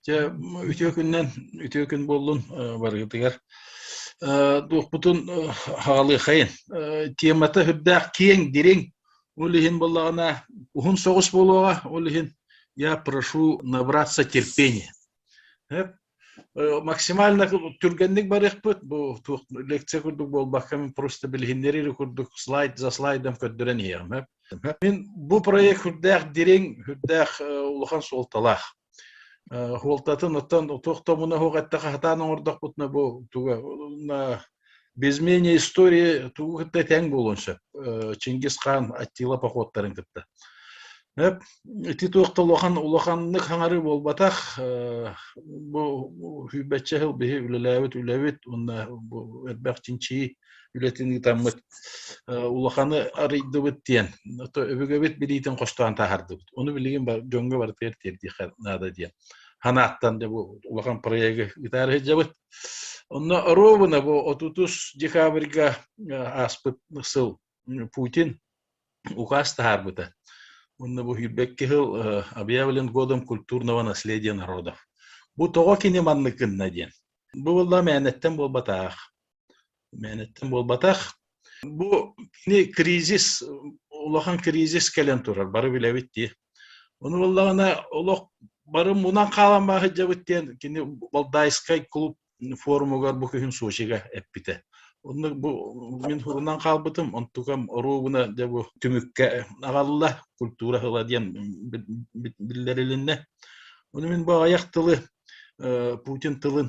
Дьэ, үтүө күннэн, үтүө күн буоллун барыгытыгар. Дуохпутун хаалыахайын. Темата үрдээх киэҥ, дириҥ. Ол иһин боллаҕына уһун соҕус буолуоҕа, ол иһин я прошу набраться терпения. Максимально түргэнник барыахпыт, бу туох лекция курдук буолбакка, мен просто билиһиннэрии курдук слайд за слайдом көрдөрөн иһиэҕим. Мин бу проект үрдээх дириҥ, үрдээх улахан суолталаах. Хуолтатын оттон туох тобуна суох эттэхэ хатаан оҥордохпутуна бу туга без менее истории тугу кытта тэҥ буолуон сөп Чингис хаан Аттила походтарын кытта Эп, ити туохта улахан улаханнык хаҥарыы буолбатах бу сүүбэччэ сыл биһи үлэлээбит үлэбит уонна бу элбэх чинчии үлэтин ыытаммыт улаханы арыйдыбыт диэн өбүгэбит билиитин хостоон таһардыбыт ону билигин дьоҥҥо барытыгар тиэрдиэххэ наада диэн ханааттан да бу улахан проегы ытаары сылдьабыт онно ровно бу отутус декабрьга ааспыт сыл путин указ таһаарбыта онно бу сүүрбэкки сыл объявлен годом культурного наследия народов бу тоҕо кини маннык гынна диэн бу буолла мээнэттэн буолбатаах Мээнэттэн буолбатах. Бу кини кризис, улахан кризис кэлэн турар, бары билэбит дии. Ону буоллаҕына олох бары мунан хаалан баһыддьабыт диэн кини Балдайскай клуб форумугар бу күһүн Сочига эппитэ. Оннук бу мин хурунан хаалбытым, онтукам оруобуна дьэ бу түмүккэ аҕалла, культура ыла диэн биллэрилиннэ. Ону мин бу аҕыйах тылы Путин тылын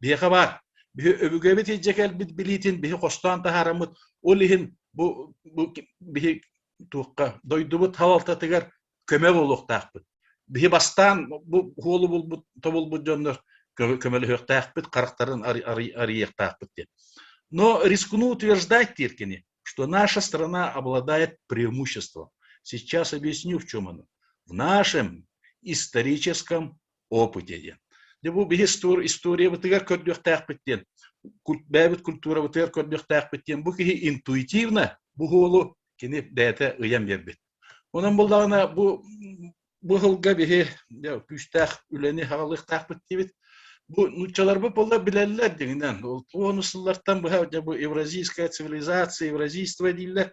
Биһиэхэ баар. Биһи өбүгэбит иһдьэ кэлбит билиитин биһи хостоон таһаараммыт, ол иһин бу, бу биһи туохха дойдубут халалтатыгар көмө буолуохтаахпыт. Биһи бастаан бу хуолу булбут, тобулбут дьоннор көмөлөһүөхтээхпит, харахтарын арыйыахтаахпыт диэн. Но рискну утверждать, Тиркини, что наша страна обладает преимуществом. Сейчас объясню, в чем оно. В нашем историческом опыте диэн. Дьэ бу биһи историябытыгар көрдүөхтээхпит диэн, бэйэбит культурабытыгар көрдүөхтээхпит диэн бу киһи интуитивно бу уолу кини бэйэтэ ыйан биэрбит. Онон буллаҕына бу бу сылга биһи күүстээх үлэни хаҕалыахтаахпыт диибит. Бу нууччаларбыт боллар билэллэр дегенен. Ол сыллартан быһа бу евразийская цивилизация, евразийство дииллэр.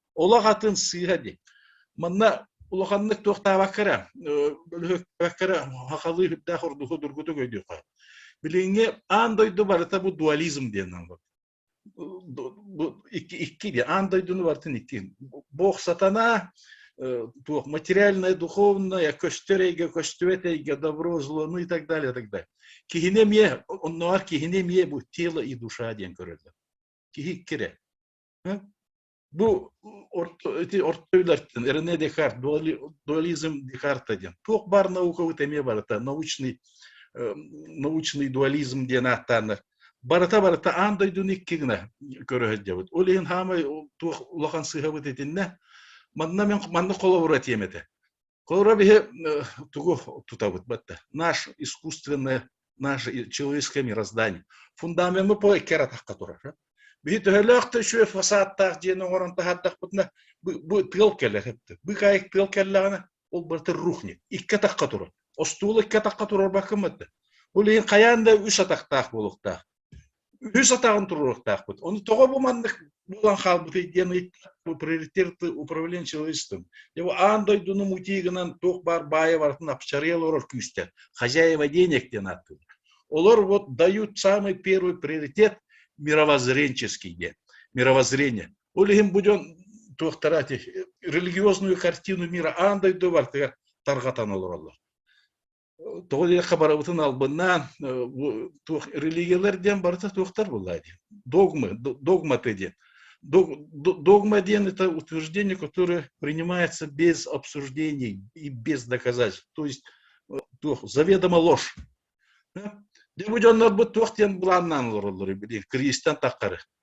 олох атын сыыһа ди манна улаханнык туохтаабакка эрэ бөлүһүөктээбэккэ эрэ хахалыы үрдээх ордуһу дургутук өйдүөххэ билиҥҥи аан дойду барыта бу дуализм диэннэн икки икки ди аан дойдуну барытын икки бог сатана туох материальная духовная көстөр эйгэ көстүбэт эйгэ добро зло ну и так далее так далее киһини эмиэ оннооҕор киһини эмиэ бу тело и душа диэн көрөллөр киһи иккирэ Ну, эти ортойлартын, Рене Декарт, дуализм Декарта диэн. Туох бар науковый эмиэ барыта научный, научный дуализм диэн ааттааннар. Барыта барыта аан дойдуну иккигинэ көрөһөддебит. Ол иһин хаамай туох улахан сыһабыт итиннэ. Манна мен манна холобура тиэмэтэ. Холобура, биһи тугу тутабыт батта? Наш искусственное, наше человеческое мироздание. Фундамент мы по эккератахка турар. Биһи төһөлөөх да үшүө фасадтаах диэн оҥорон таһааттахпытына, бу тыал кэллэхипти. Бу кайык тыал кэллэҕинэ, ол барыта рухник. Икке тахха турар. Остуол икке тахха турар бакымытта. Ол иһин хайаан да үс атахтаах буолуохтаах. үһүс атаҕын туруруохтаахпыт. Ону тоҕо бу маннык буолан хаалбытый диэн ыйыттылар приоритеты управление человечеством. Его аан дойдуну мутии гынан туох баар баайа барытын апчарыйа олорор күүстэр. Хозяева денег диэн ааттыылар. Олор вот дают самый первый приоритет мировоззренческий диэн. Мировоззрение. Ол иһин бу дьон туохтара религиозную картину мира аан дойду бартыгар тарҕатан олороллор. Тоҕо диэххэ барыбытын албыннаан туох религиялар диэн барыта туохтар буолла диэн догмы догматы диэн догма диэн это утверждение которое принимается без обсуждений и без доказательств то есть туох заведомо ложь да бу дьоннорбут туох диэн былааннаан олороллор билиҥ кризистан таххары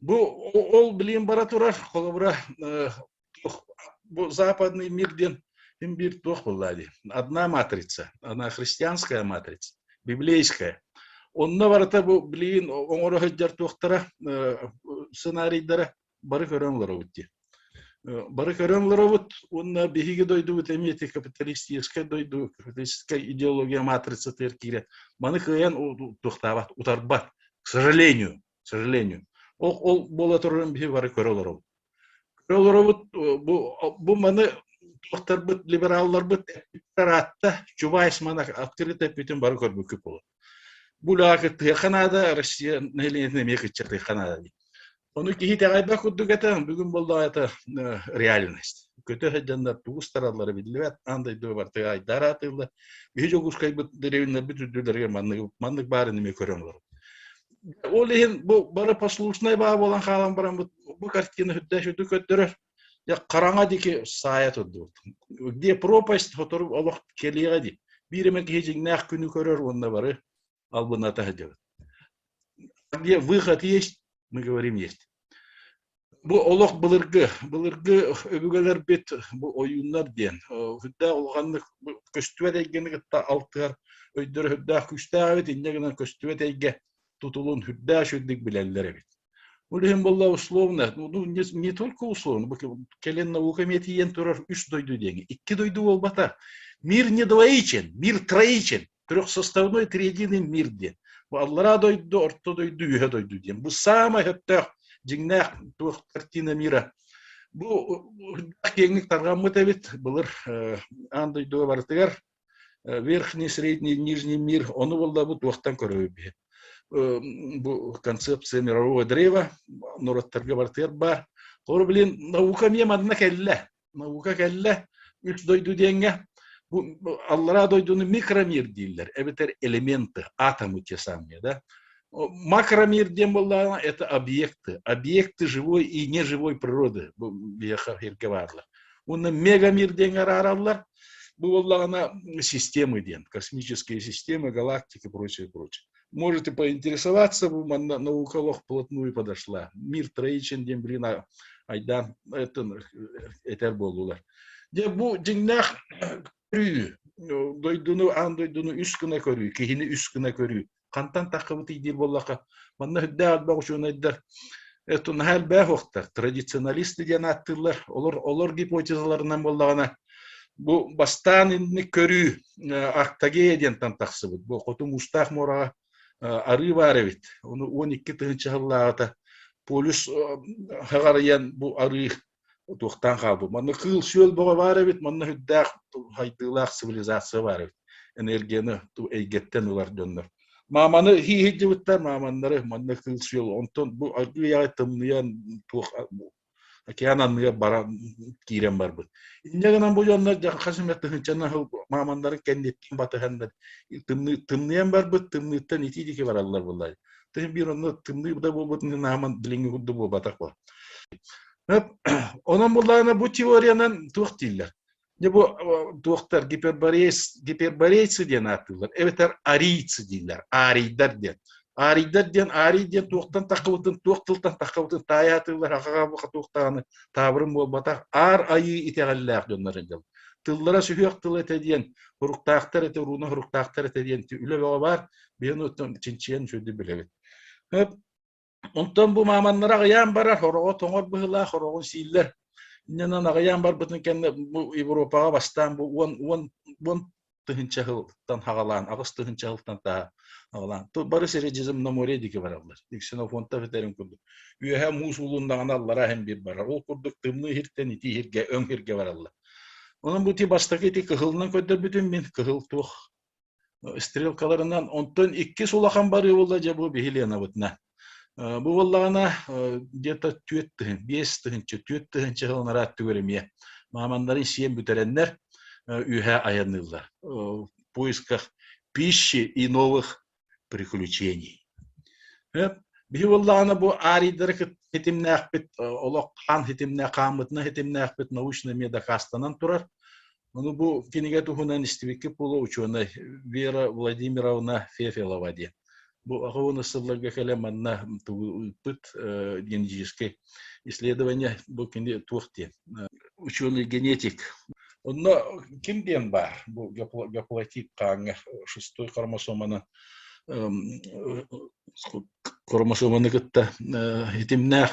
Бу ол билиэн бара турар, холобура, бу западный мир диэн им бир туох буллади. Одна матрица, она христианская матрица, библейская. Онно барыта бу билиин оңоро хыджар туохтара сценарийдара бары көрөн лоробут ди. Бары көрөн лоробут, онна биһиги дойдубут эмиэти капиталистическай дойду, капиталистическай идеология матрица тер кире. Маны кыян туохтаабат, утарбат, к сожалению. сожалению. Ол, ол буола турарын биһи бары көрө олоробут. Көрө олоробут, бу, бу маны туохтарбыт, либералларбыт эппиттэр аатта, Чубайс маны актырыт эппитин бары көрбүккү болот. Булаакы тыаха наада, Россия населениетин эмиэ кычча тыаха наада дии. Ону киһи тэҕэйбэх курдук этэ, бүгүн боллаата реальность. Көтө сылдьаннар тугус тараллары биллибэт, аан дойду бартыга айдаар аатыылла. Биһи Дьогускайбыт деревиннэрбит үрдүлэригэр маннык маннык баарын эмиэ көрөн олорор. Ол иһин бу бары послушнай баа буолан хаалан баран бу картина үрдэш үрдүк көрдөрөр. Я хараҥа дики саая турдубут. Где пропасть сотору олох келиега ди. Бириме киһи жиңнээх күнү көрөр уонна бары албына тахадыбыт. Где выход есть, мы говорим есть. Бу олох былыргы, былыргы өбүгэлэрбит бу ойууннар диэн үрдээх улаханнык көстүбэт эйгэни кытта алтыһар өйдөрө үрдээх күүстээх эбит инньэ гынан көстүбэт эйгэ тутулун үрдээх үрдүк билэллэр эбит. Бұл иһин булла условно, ну не, не только условно, кэлэн науками тиен турар үш дойду диэҥи. Икки дойду буолбата. Мир не двоичен, мир троичен. трехсоставной триединый мир диэн аллараа дойду орто дойду үөһэ дойду диэн бу саамай сөптөөх дьиҥнээх туох картина мира бу киэҥник тарҕаммыт эбит былыр аан дойдуга барытыгар верхний средний нижний мир ону буллабы туохтан көрөбү биһи бу концепция мирового древа норуоттарга барытыгар баар холобу билин наука эмиэ манна кэллэ наука кэллэ үс дойду диэҥҥэ бу аллараа дойдуну микромир дииллэр эбэтэр элементы атомы те самые да макромир диэн буоллаҕына это объекты объекты живой и неживой природы бу биһиэхэ эргэ бааллар уонна мегамир диэн араараллар бу буоллаҕына системы диэн космические системы галактики прочее прочее можете поинтересоваться, на науковых плотную подошла. Мир Троичен диэн билигин айдаан этэр буоллулар. Дьэ бу дьиҥнээх көрүү, дойдуну аан дойдуну үс гына көрүү, киһини үс гына көрүү. Хантан таххыбыт диир боллаха, манна үрдээх отбах учуонайдар это наһаа элбээх уохтар, традиционалисты диэн ааттыыллар, олор олор гипотезаларынан буоллаҕына Бу бастаан инни көрүү Актагея диэнтан тахсыбыт. Бу хоту муустаах муораҕа арыы баар эбит. Ону 12 тыһыынча сыллааҕыта полюс хаҕарыйан бу арыы туохтаан хаалбыт. Манна кыыл-сүөл бөҕө баар эбит, манна үрдээх хайдыылаах цивилизация баар эбит. Энергияны эйгэттэн ылар дьоннор. Мааманы хииһирдьибиттэр, мааманнары манна кыыл-сүөл. Онтон бу арыы тымныйан туох Океан анныгар баран киирэн барбыт. Инньэ гынан бу дьоннор хас эмэ тыһынчан аһыл маамандарын кэнниттин батыһаннар тымныйан барбыт тымныыттан ити дики бараллар булай. Тыһын биир онно тымныы да буолбут нааман билиҥҥи курдук буолбатах бо. Онон буллаана бу теориянан туох дииллер? Дьэ бу туохтар гиперборейцы, гиперборейцы диэн ааттыыллар, эбэтэр арийцы дииллэр, аарийдар диэн. Аарийдар диэн аарий диэн туохтан таххыбытын, туох тылтан таххабытын таайа атыыллар хахаҕа туох даҕаны таабырын буолбатах аар айыы итэҕэллээх дьоннор дьон. Тыллара сүһүөх тыл этэ диэн, уруктаахтар этэ, урууна уруктаахтар этэ диэн үлэ бөҕө баар, биһиги чинчийэн сүрдүү билэбит. Онтон бу мааманнары аҕыйаан барар, ороҕо тоҥор быһыылаах, ороҕун сииллэр. Иннинэн аҕыйаан барбытын кэннэ бу Европаҕа бастаан бу уон, уон, уон тыһыынча сылтан хаҕалаан, аҕыс тыһыынча сылтан таа хаҕалаан, бары сири Жизм на море диэки бараллар. Ксенофонтов этэрин курдук. Үөһэ муус уулуннаҕына аллараа иһин биир барар. Ол курдук тымныы иһиртэн итии иһиргэ, өҥ иһиргэ бараллар. Онон бу ити бастакы ити кыһылынан көрдөрбүтүм мин. Кыһыл туох стрелкаларынан онтон иккис улахан барыы буолла дьэ бу биһи Ленабытна бу буоллаҕына где-то түөрт тыһын биэс тыһынча түөрт тыһынча сыл нараат түгэрэмиэ мааманнарын сиэн бүтэрэннэр үһэ айанныыллар в поисках пищи и новых приключений биһи буоллаҕына бу арийдары ситимнээхпит олох хаан ситимнээх хааммытына ситимнээхпит научнай медокастанан турар Ну, бу кинигэ туһунан истибиккит буолуо учуонай Вера Владимировна Фефелова диэн. Бу аҕабын ыстылларга кэлэ манна тугуйпут э, генетический исследование бу кини туох диэн ученый генетик онно ким диэн баар бу геплатит хааҥҥа шестой хромосоманы хромосоманы кытта э, хитимнээх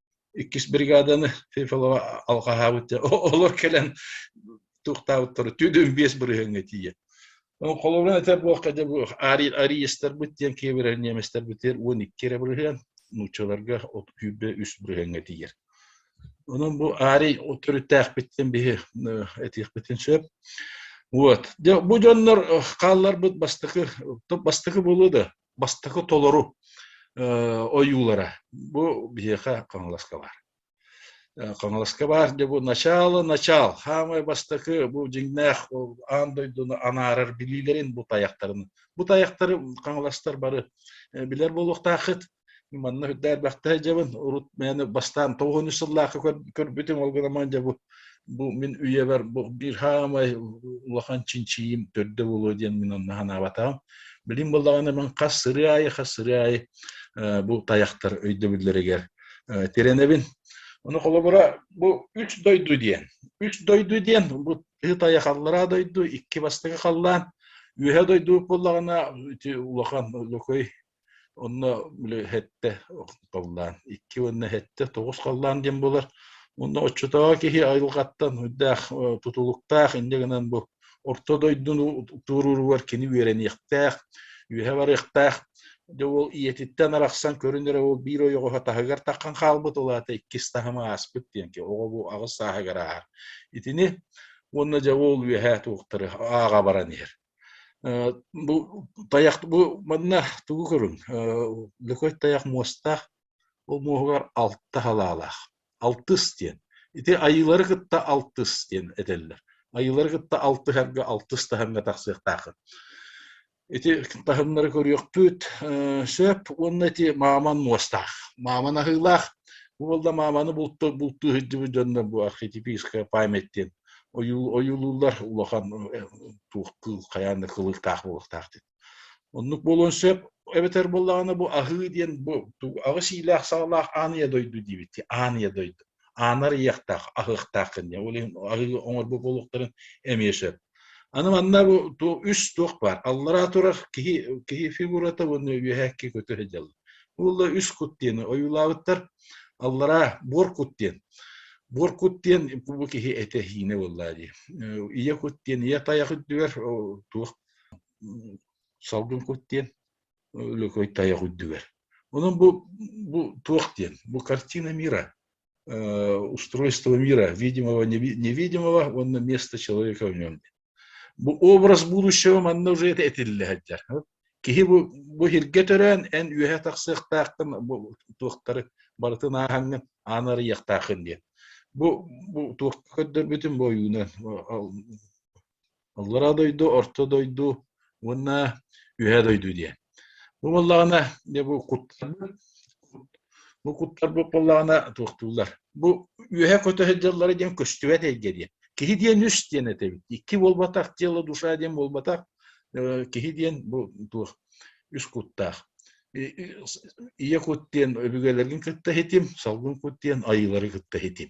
иккис бригаданы Фефелова алҕаһаабыт олор кэлэн туохтаабыттара түүдүн биэс бырыһыҥҥа тиийэ холобура этэ буохка да буох ариестарбыт диэн киэбирэр неместарбытыр уон икки эрэ бырыһыан нууччаларга от күүрбэ үс бырыһыҥҥа тиийэр онон бу арий төрүттээхпиттэн биһи этиэхпитин сөп вот бу дьоннор хаалларбыт бастакы бастакы буолуо да бастакы толору ойуулара бу биһиэхэ хаҥаласка баар хаҥаласка баар дьэ бу начало начал хаамай бастакы бу дьиҥнээх аан дойдуну анаарар билиилэрин бу тайахтарын бу тайахтары хаҥаластар бары билэр буолуохтааххыт манна үрдээ элбэхтэ дьабын урут мээнэ бастаан тоҕуһун үс сыллаахы көрбүтүм ол гынан дьабы бу мин үйэбэр бу биир хаамай улахан чинчийим төрдө буолуо диэн мин онно санаабатаҕым билим буоллаҕына мен хас сыры аайы хас сыры аайы бу таяхтар өйдөбүллэригэр тирэнэбин ону холобура бу үч дойду диэн үч дойду диэн бу ыт айах аллараа дойду икки бастакы халлаан үөһэ дойду буоллаҕына улахан лөкөй Онно били хэттэ халлаан икки уонна хэттэ тоҕус халлаан диэн буолар. Уонна оччотооҕу киһи айылҕаттан үрдээх тутулуктаах инньэ гынан бу орто дойдуну туорууругар кини үөрэниэхтээх, үөһэ барыахтаах. Дьэ ол ийэтиттэн арахсан көрүн эрэ ол биир ойоҕоһо таһыгар таххан хаалбыт ол аата иккис таһыма ааспыт диэн ки оҕо бу аҕыс сааһыгар ааһар. Итини уонна дьэ ол үөһэ туохтары ааҕа баран иһэр. Э, бу тайах бу манна тугу көрүҥ? Э, Лөкөй тайах муостаах, ол муоһугар алта халаалаах. Алтыс диэн. Ити айыылары кытта алтыс диэн этэллэр. Айыылары кытта алтыһарга алтыс таһымҥа тахсыахтааххын. Ити таһымнары көрүөхпүт. Э, Сөп уонна ити мааман муостаах. Мааман аһыылаах. Бу буолла мааманы булту бултуу сылдьыбыт дьоннор бу архетипическая память диэн ойуулууллар улахан туох кыыл хайаан да кылыктаах буолуохтаах диэн оннук буолуон сөп эбэтэр буоллаҕына бу аһыы диэн бу аҕыс иилээх саҕалаах ааныйа дойду диэбитти ааныйа дойду аанар иэхтээх аһыахтаах кэннэ ол иһин аһыы оҥорбут буолуохтарын эмиэ сөп аны манна бу үс туох баар аллараа турар киһи киһи фигурата уонна үөһээкки көтө сылдьаллар уолла үс кут диэни ойуулаабыттар аллараа буор кут диэн буор кут диэн бу киһи этэ-иһиинэ буоллаа дии ийэ кут диэн ийэ тайах үрдүгэр туох салгын кут диэн Лөкөй тайах үрдүгэр онон бу бу туох диэн бу картина мира устройство мира видимого невидимого уонна место человека в нем Бу образ будущего манна уже это этиллэ сылдьар. Киһи бу, бу сиргэ төрөөн, эн үөһэ тахсыахтааххын, бу туохтары барытын ааһаҥҥын, ааны арыйыахтааххын диэн. Бу, бу туохка көрдөрбүтүн бу ойуунан. Аллараа дойду, орто дойду, уонна үһэ дойду диэн. Бу буоллаҕына, бу куттарбыт, бу куттарбыт буоллаҕына туохтууллар. Бу үөһэ көтөһө дьаллара диэн көстүбэт эйгэ диэн. Киһи диэн үс диэн этэбит. Икки буолбатах тело, душа диэн буолбатах. Киһи диэн бу туох үс куттаах. Ийэ кут диэн өбүгэлэргин кытта хитим, салгын кут диэн айыылары кытта хитим.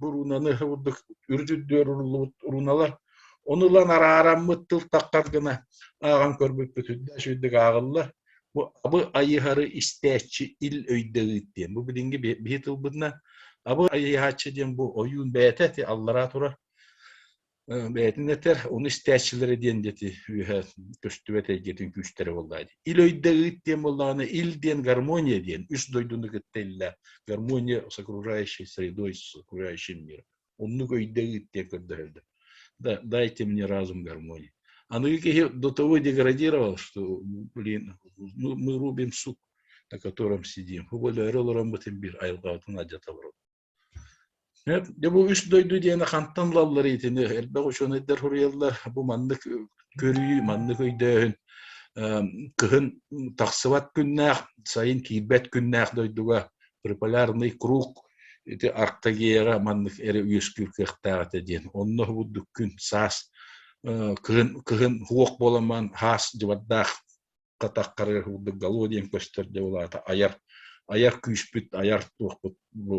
буруунаны курдук үрдүрдүөр уруллубут уруналар ону ылан араараммыт тыл таххар гына ааҕан көрбүппүт үрдүк ааҕылла бу абы айыһары истээччи ил өйдөйүт диэн бу билинги биһи тылбытынан абы айыһааччы диэн бу ойуун бэйэтэ аллараа турар бэйэтин этэр уну истээччилэри диэн дети үөһэ көстүбэт эйгэтин күүстэрэ буолла ил өйдө ыыт диэн буоллаҕына ил диэн гармония диэн үс дойдуну кытта иллэ гармония с окружающей средой с окружающим миром оннук өйдө ыыт диэн көрдөһөлдөр да дайте мне разум гармонии аныгы киһи до того деградировал что блин мы рубим сук на котором сидим более олорон бытын bir айылҕабытын алдьаталар Дьэ бу үс дойду диэн хантан ылалларый итини? Элбэх учуонайдар суруйаллар, бу маннык көрүү, маннык өйдөөһүн кыһын тахсыбат күннээх, сайын киирбэт күннээх дойдуга приполярный круг ити Арктагеаҕа маннык эрэ үөскүүр кыахтаах этэ диэн. Онно уһубурдук күн, саас, кыһын, кыһын уох буоламан, хаас дьыбардаах татаххары ылдыгалоо диэн көстөр дьэ ол аата айар айар күүспүт айар туохпут бу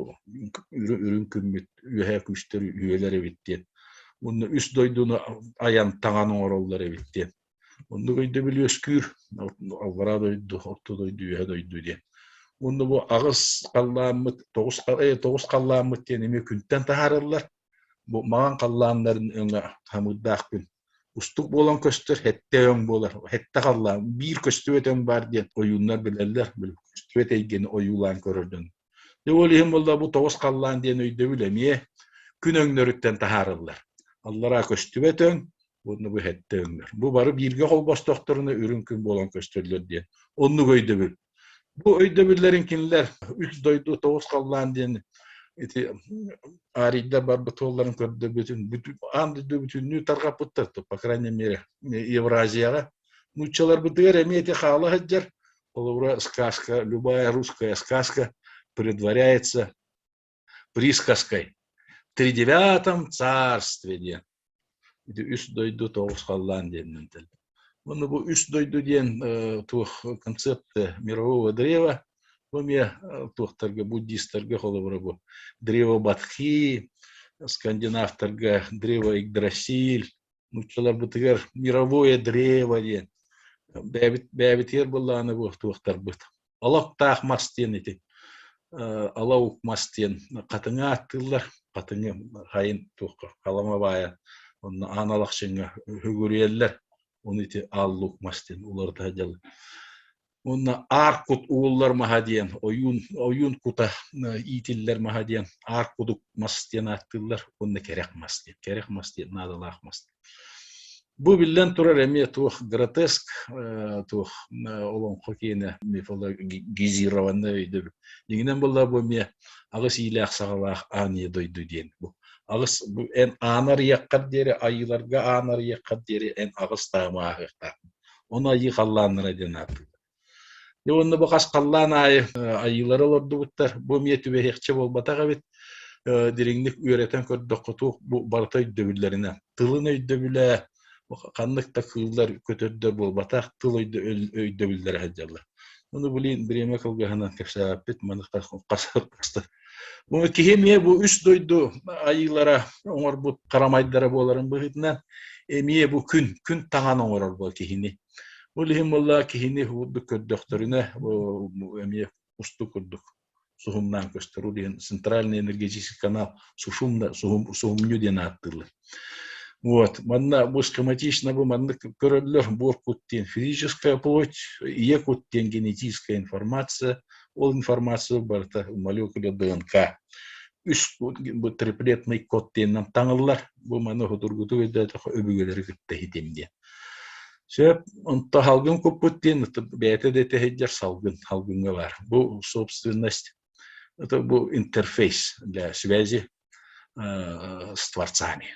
үрүн күммүт үөһэ күүстэр үөлэр эбит диэн уонна үс дойдуну айан таҥан оҥороллор эбит диэн оннук өйдөбүл үөскүүр аллараа дойду орто дойду үөһэ дойду диэн уонна бу аҕыс халлааммыт тоҕус тоҕус халлааммыт диэн эмиэ күнтэн таһаарыллар Бу маҥан халлааннарын өҥө хамыырдаахпын. Устук буолан көстөр хэттэ өҥ буолар. Хэттэ халлаан, биир көстүбэт өҥ баар диэн ойууннар билэллэр. Били көстүбэт эйгэни ойуулаан көрөр дьон. Дьэ ол иһин буолла бу тоҕус халлаан диэн өйдөбүл эмиэ күн өҥнөрүттэн таһаарыллар. Аллараа көстүбэт өҥ, уонна бу хэттэ өҥнөр. Бу бары бииргэ холбостоохторуна үрүҥ күн буолан көстөллөр диэн оннук өйдөбүл Бу өйдөбүллэрин кинилэр үс дойду тоҕус халлаан диэн ити аарийдар барбыт уолларын көрдөбүтүн аан дойду бүтүннүү тарҕаппыттар, по крайней мере, Евразияҕа. Нууччаларбытыгар эмиэ ити хаала сылдьар. Холобура, сказка, любая русская сказка предваряется присказкой «При девятом царстве» диэн. Ити үс дойду тоҕус халлаан диэнинэн тэл. Уонна бу үс дойду диэн э, туох концепция мирового древа, бу эмиэ э, туохтарга, буддистарга холобура бу древо Батхи, скандинавтарга древо Игдрасиль, нууччаларбытыгар мировое древо диэн. Бэйэбит бэйэбитигэр былааны бу туохтарбыт олохтоох мас диэн ити алау мас диэн хатыҥы ааттыыллар хатыҥы хайын туохха халама баайа онно аан алахчыҥҥа үһүгүрүйэллэр ону ити ааллуук мас диэн уларыта дьыл уонна аар кут ууллар маһа диэн ойуун ойуун кута иитиллэр маһа диэн аар кудук мас диэн ааттыыллар уонна кэрэх мас диэн кэрэх мас диэн наадалаах мас Бу биллэн турар эмиэ туох гротеск, туох олоҥхо киэнэ мифологизированнай өйдөбүл. Дьиҥинэн буоллар бу эмиэ аҕыс иилээх саҕалаах аанньа дойду диэн бу. Аҕыс бу эн аан арыйаххар диэри айыыларга аан арыйаххар диэри эн аҕыс таамаһыахтааххын. Ону айыы халлааннара диэн ааттыыллар. Дьэ уонна бу хас халлаан аайы айыылары олордубуттар. Бу эмиэ түбэһиэхчэ буолбатах эбит. дириҥник үөрэтэн көрдөххө туох бу барыта өйдөбүллэринэн. Тылын өйдөбүлэ ханнык да кыыллар көтөрдө буолбатах, тыл өйдөбүллэрэ сылдьаллар. Ону билин бремя кылгыһынан кэпсээппит маныктар Бу киһи эмиэ бу үс дойду айыылара оҥорбут харамайдара буоларын быһыытынан эмиэ бу күн күн таҥан оҥорор киһини Ол иһин буолла киһини уурдук көрдөхтөрүнэ эмиэ устук курдук суһумнаан көстөр. Ол иһин центральный энергетический канал сушумно, суһум, суһумньу диэн ааттыыллар. Вот. Манна бу схематично бу маннык көрөллөр буор кут диэн физическая плоть, ийэ кут диэн генетическая информация. Ол информация барыта молекуля ДНК. Үс бу триплетный код диэн таҥыллар. Бу маны судургутук өйдөөтөх өбүгэлэри кытта хитим диэн. Сөп, онто салгын куппут диэн бэйэтэ да итэһэйдэр салгын, салгыҥҥа баар. Бу собственность, это бу интерфейс для связи э, с творцами.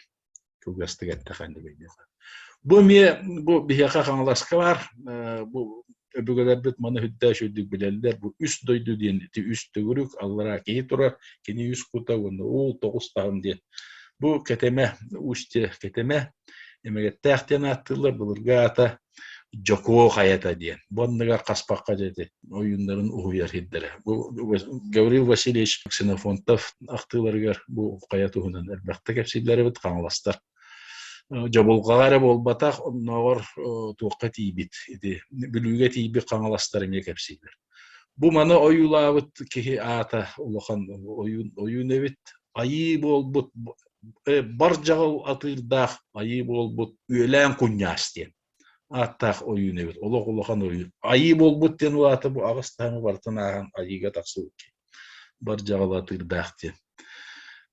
Кылгастык эттэхэн бу эмиэ бу биһиэхэ хаҥаласка баар, э, бу өбүгэлэрбит маны үрдээш үрдүк билэллэр бу үс дойду диэн ити үс төгүрүк аллараа киһи турар кини үс кута уонна уул тоҕус таһым диэн бу кэтэмэ устье кэтэмэ эмэгэттээх диэн ааттыыллар былырга аата дьокуо хайата диэн бу анныгар хаспахха дети ойууннарын уһуйар хирдэрэ бу Гаврил Васильевич Ксенофонтов ахтыыларыгар бу хайа туһунан элбэхтэ кэпсиллэрибит хаҥаластар Дьабылҕаҕа эрэ буолбатах, оннооҕор туохха тиийбит ити Бүлүүгэ тиийбит хаҥаластар эмиэ кэпсииллэр. Бу маны ойуулаабыт киһи аата улахан ойуун ойуун эбит. Айыы буолбут бар дьаҕал атыырдаах айыы буолбут Үөлээн Куньаас диэн ааттаах ойуун эбит. Олох улахан ойуун. Айыы буолбут диэн улаата бу аҕыс таһымы барытын ааһан айыыга тахсыбыт киһи. Бар дьаҕал атыырдаах диэн.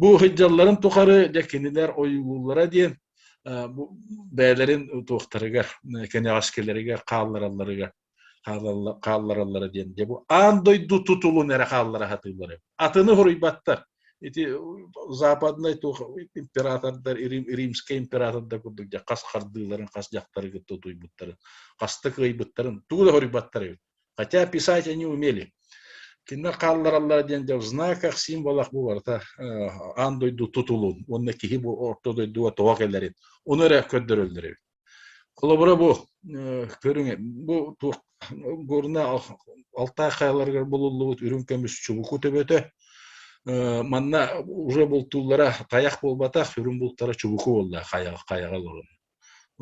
Бу сылдьалларын тухары дьэ кинилэр ойуулууллара диэн бэйэлэрин утуохтарыгар, кэнэҕэскилэригэр хаалларалларыгар хааллараллара диэн дьэ бу аан дойду тутулун эрэ хааллара сатыыллар эбит. Атыны хоруйбаттар. Ити западнай туох императордар римскэй императордар курдук хас хардыыларын хас дьахтарыгыт тутуйбуттарын хас да кыайбыттарын тугу да хоруйбаттар эбит. Хотя писать они умели. Кинилэр хааллараллара диэн дьэ в знаках символах бу барыта аан дойду тутулун уонна киһи бу орто дойдуга тоҕо кэлэрин ону эрэ көрдөрөллөр эбит. Холобура бу көрүҥ бу туох горна алтаа хаяларыгар булуллубут үрүҥ көмүс чубуку төбөтө манна уже бултууллара таяқ буолбатах үрүҥ бултара чубуку буолла хайаҕа олорон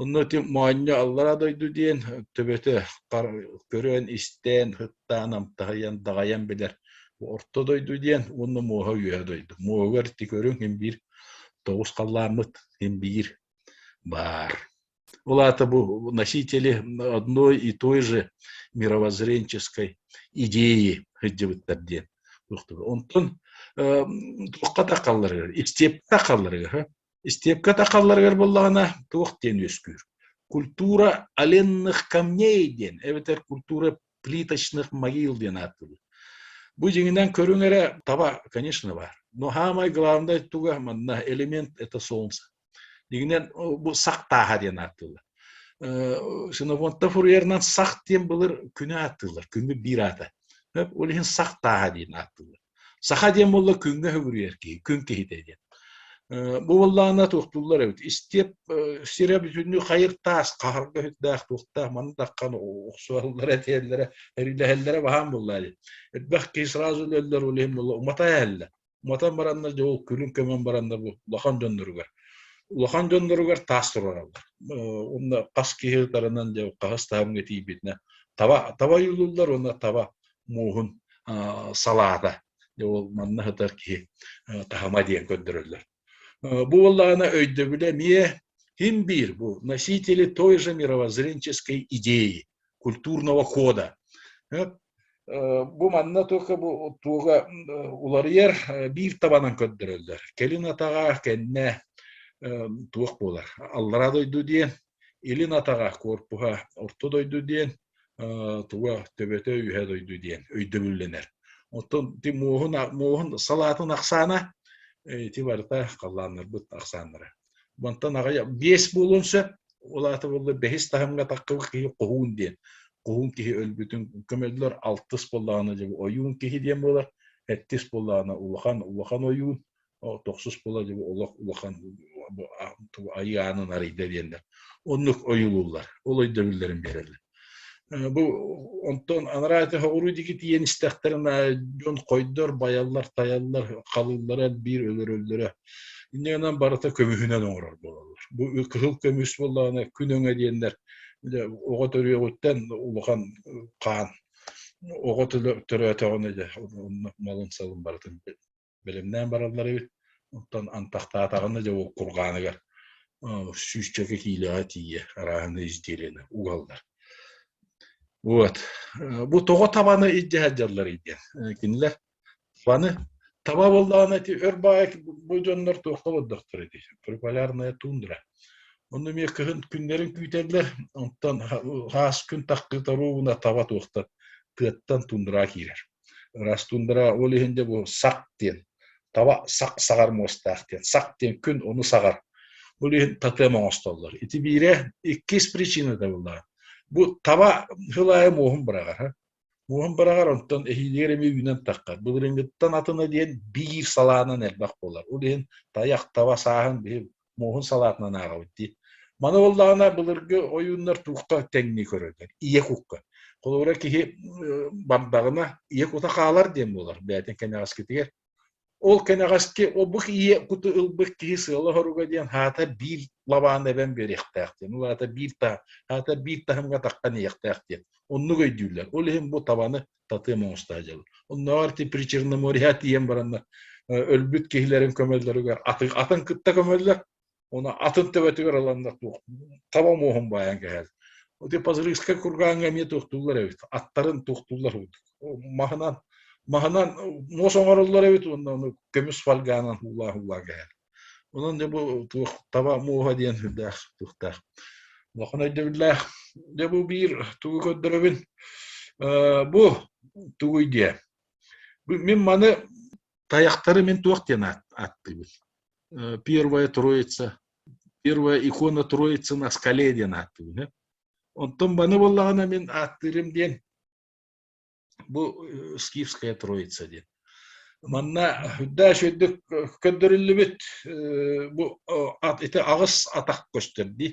Онно ити моонньо аллараа дойду диэн төбөтө көрөөн-истээн, һыктаан, амтаһыйан, даҕайан билэр орто дойду диэн уонна муоһа-үөһэ дойду. Муоһугар ити көрүҥ син биир тоҕус халлааммыт син биир баар. Ол аата бу носители одной и той же мировоззренческой идеи сылдьыбыттар диэн онтон туохха да халларыгар, истепта халларыгар Истиэпкэ тахалларыгар буоллаҕына, туох диэн үөскүүр. Культура оленных камней диэн, эбэтэр культура плиточных могил диэн ааттыыр. Бу дьиҥинэн көрүҥ эрэ таба, конечно, баар. Но самое главное туга манна элемент это солнце. Дигинен бу сах тааха диэн ааттыылар. Синофонта фурьерынан сах диэн былыр күнү ааттыылар, күнү биир аата. Ол иһин сах тааха диэн ааттыылар. Саха диэн буолла күҥҥэ хөгүрүйэр киһи, күн киһитэ диэн. Бу буоллаҕына туохтууллар эбит. Истиэп, сирэ бүтүннүү хайыр таас, хаһарга үһүттээх, туохтаах, маны таххан охсуһаллара, этиэллэрэ, эрилэһэллэрэ баһаам буоллаа дии. Элбэх киһи сразу өлөллөр, ол иһин буолла уматан эһэллэр. Уматан бараннар дьэ ол күлүн көмөн бараннар бу улахан дьонноругар улахан дьонноругар таас туруораллар. Уонна хас киһи ытарынан дьэ хаһыс таһымҥа тиийбитинэ таба таба ойуулууллар уонна таба мууһун салаата ол манна сытар киһи таһыма диэн көрдөрөллөр бу буоллаҕына өйдөбүлэ эмиэ һин биир бу носители той же мировоззренческой идеи культурного хода бу манна только бу туга уларыйар биир табанан көрдөрөллөр кэлин атаҕа кэннэ туох буолар аллара дойду диэн илин атаҕа корпуһа орто дойду диэн туга төбөтө үһэ дойду диэн өйдөбүллэнэр. Оттон ти муоһун муоһун салаатын ахсаана ити барыта халлааннарбыт ахсааннара. Бантан аҕай биэс буолун сөп, ол аата болла бэһис таһымга тахкыбы киһи хоһуун диэн. Хоһуун киһи өлбүтүн көмөллөр алтыс боллаана же ойуун киһи диэн буолар, эттис боллаана улахан улахан ойуун, тохсус була олох улахан айаанын арыйда диэннэр оннук ойулууллар ол өйдөбүллэрин биэрэллэр бу онтон анараа этэ оруу диги тиийэн истэхтэринэ дьон хойдор байаллар тайаллар халыыллара биир өлөрөллөрө иннигынан барыта көмүһүнэн оҥорор буолаллар бу кыһыл көмүс буоллаҕына күн өҥө диэннэр оҕо төрүөҕүттэн улахан хаан оҕо төрөөтөҕүнэ дьэ малын салын барытын бэлэмнээн бараллар эбит оттон антахтаатаҕына дьэ ол кургааныгар сүүсчэкэ киилэҕэ тиийэ арааһаны изделиены угаллар вот бу тоҕо табаны илдьэ сылдьалларый диэн кинилэр табаны таба буоллаҕына ити өр баайа бу дьоннор туох тобордохтор ити прополярная тундра онно эмиэ кыһын күннэрин күүтэллэр онтон хаас күн тахтыта руубуна таба туохтар тыаттан тундра киирэр Раз тундара ол иһин де бу сақ диэн таба сақ саҕар муостаах диэн сақ диэн күн ону саҕар ол иһин тотем оҥостоллор ити биирэ иккис причината буоллаҕа бу таба хылаайы муоһун быраҕар муоһун быраҕар онтон эһиилигэр эмиэ үүнэн таххат былырыыҥҥыттан атына диэн биир салаанан элбэх буолар ол иһин тайах таба сааһын биһи муоһун салаатынан ааҕабыт дии. Маны буоллаҕына былыргы ойууннар туохха тэҥнии көрөллөр? Ийэ кукка. Холобура киһи бамдаҕына ийэ кута хаалар диэн буолар бээтин кэнэҕэскитигэр. Ол кэнэҕэски обук ийэ куту ылбыт киһи сыала-хоруга диэн хаата биир лабаан эбэн биэриэхтээх диэн. Ол аата биир таһым, хаата биир таһымга таххан ийэхтээх диэн. Оннук өйдүүллэр. Ол иһин бу табаны татыам оҥостоодьобут. Оннооҕор ти Причерно море тиийэн баранна өлбүт киһилэрин көмөллөрүгэр атын, атын кытта көмөллөр уна атын төбөтүгэр ыланнар туох таба муоһун баайан кэһэл Оти Пазрыгскай кургааҥҥа эмиэ туохтууллар эбит аттарын туохтууллар уутук маһынан маһынан муос оҥороллор эбит уонна көмүс фольгаанан уулаа уулаа кэһэл Онон дьэ бу туох таба муоһа диэн сүрдээх суохтаах. Улахан өйдөбүллээх. Дьэ бу биир тугу көрдөрөбүн. Э, бу тугуй диэ. Мин маны тайахтары мин туох диэн ааттыыбын. Э, первая троица, первая икона Троицы на скале диэн ааттыыбын. Онтон маны буоллаҕына мин ааттыырым диэн Бу э, скифская троица диэн. Манна үрдээш үрдүк көрдөрүллүбүт бу ити аҕыс атах көстөр ди.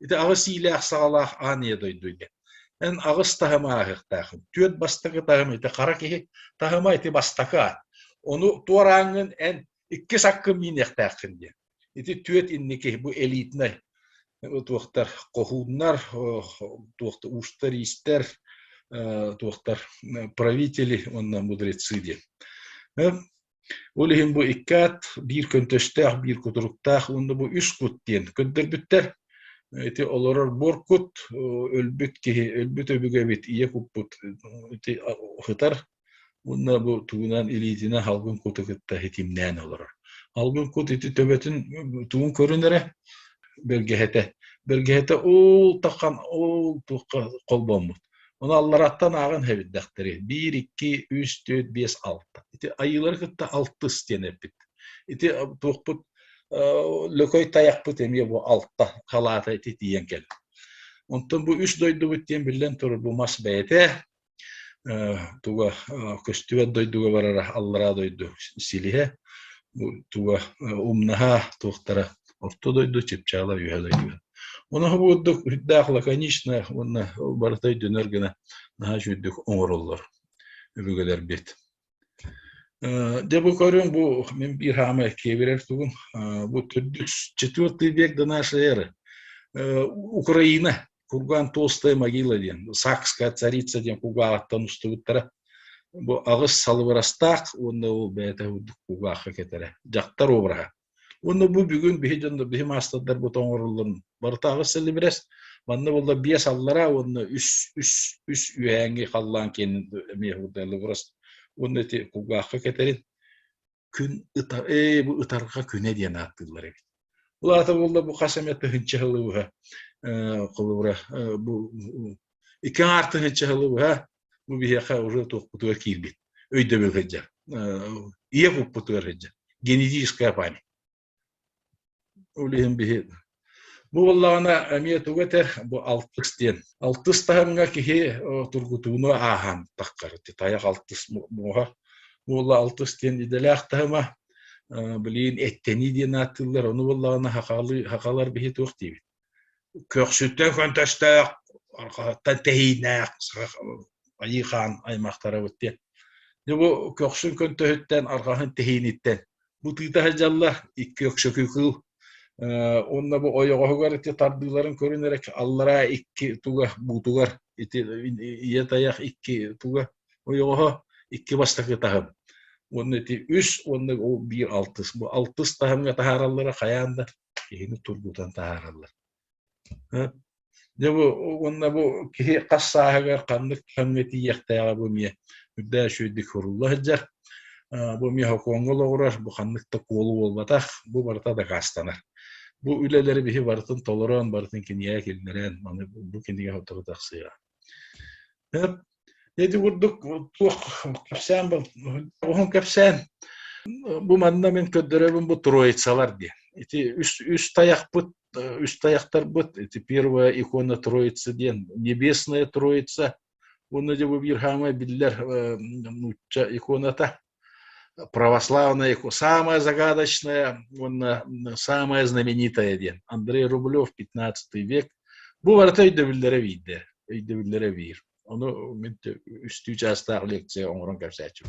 Ити аҕыс иилээх саалаах ааныя дойду диэн. Эн аҕыс таһыма аһыктаахын. Түөрт бастакы таһым ити хара киһи таһыма ити бастакы аат. Ону туорааҥҥын эн иккис аккын миниэхтээххин диэн. Ити түөт инники бу элитнай туохтар хоһууннар, туохтар уустар иистэр, туохтар правители уонна мудрецы диэн. Ол иһин бу иккаат биир көнтөстөөх, биир кутуруктаах уонна бу үс кут диэн көрдөрбүттэр. Ити олорор буор кут, өлбүт киһи, өлбүт өбүгэбит ийэ куппут ити ыһытар, Уонна бу тугунан илиитинэн халгын куту кытта итимнээн олорор. Халгын кут ити төбөтүн тугун көрүн эрэ бэргэһэтэ. Бэргэһэтэ ол тахан ол туохха холбоммут. Оны аллараттан ааҕын хэбирдэхтэри. Биир, икки, үс, төрт, бес, алта. Ити айыылары кытта алтыс диэн эппит. Ити туохпут Лөкөй таяхпыт эмиэ бу алта халаата ити тиийэн кэл. Онтон бу үс дойдубут диэн биллэн турар бу мас бэйэтэ туга көстүбэт дойдуга барара аллараа дойду силиһэ туга умнаһа туохтара орто дойду чыпчаала үһэ дойду Оноһу бурдук үрдээх лаконично уонна барыта өйдөнөр гына наһаа жүдүк оҥороллор өбүгэлэр бит Дьэ бу көрүҥ бу мин биир хаама киэбирэр тугун бу төрдүк четвертый век до нашей эры Украина курган толстая могила диэн сакская царица диэн кугааҕыттан устубуттара бу аҕыс салыбырастаах уонна ол бэйэтэ кугаахха кэтэрэ дьахтар обраһа Уонна бу бүгүн биһи дьон биһи маастардарбыт оҥоруллун. Барытааҕы сэлибирэс манна буолла биэс аллара уонна үс үс үс үһээҥи халлаан киэнин эмиэ хурдайлыбырас уонна ити кулгаахха кэтэрин күн ытар ээ бу ытарҕа күнэ диэн ааттыыллар эбит. Бұл ата болла бу қасамет тыһынчы хылыбыһа э, қылыбыра э, бу ике артыһынчы хылыбыһа Бу биһиэхэ уже туохпутугар киирбит. Өйдөбүл сылдьар. Ийэ куппутугар сылдьар. Генетическая память. Ол иһин биһи Бу буоллаҕына эмиэ тугу этэр бу алтыс диэн. Алтыс таһымҥа киһи тургутууну ааһан таххар. Тайах алтыс муоһа буолла алтыс диэн идэлээх таһыма. Блин, эттэнии диэн ааттыыллар. Ону буоллаҕына хахалар биһи туох диибит. Көхсүттэн фантастаах, арҕаһыттан тэһиинээх Айыы хаан аймахтарабыт диэн. Бу көхсүн көнтөһүттэн, арҕаһын тэһииниттэн бу тыыта сылдьаллар, икки өксөкү кыыл уонна бу ойоҕоһугар ити тардыыларын көрөн эрэ аллараа икки туга буутугар ити ийэ тайах икки туга ойоҕоһо икки бастакы таһым уонна ити үс уонна биир алтыс бу алтыс таһымҥа таһаараллара хайаан да киһини тургутан таһаараллар. Дьэ бу уонна бу киһи хас сааһыгар ханнык кэмҥэ тиийиэхтээҕэ бу эмиэ үрдээх үчүгэйдик сурулла сылдьар. Бу эмиэ Хоккооҥҥо олоҕурар, бу ханнык да куолу буолбатах, бу барыта дакаастанар. Бу үлэлэри биһи барытын толорон, барытын кинигэ киллэрэн, бу кинигэ сотору тахсыаҕа. Ити курдук туох кэпсээн оҕуһун кэпсээн бу манна мин көрдөрөбүн бу троицалар диэн. Ити үс, үс таякпыт, үс таyaктарбыт, ити первая икона Троицы диэн, небесная Троица, уонна дьэ бу Бирхама биллэр нуучча иконата. православный, самое загадочное, он самое знаменитое диэн Андрей Рублев, 15 век. Бу барыта өйдөбүллэрэ биирдэ, өйдөбүллэрэ биир. Ону мин үстүү чаастаах лекция оҥорон кэпсээччим.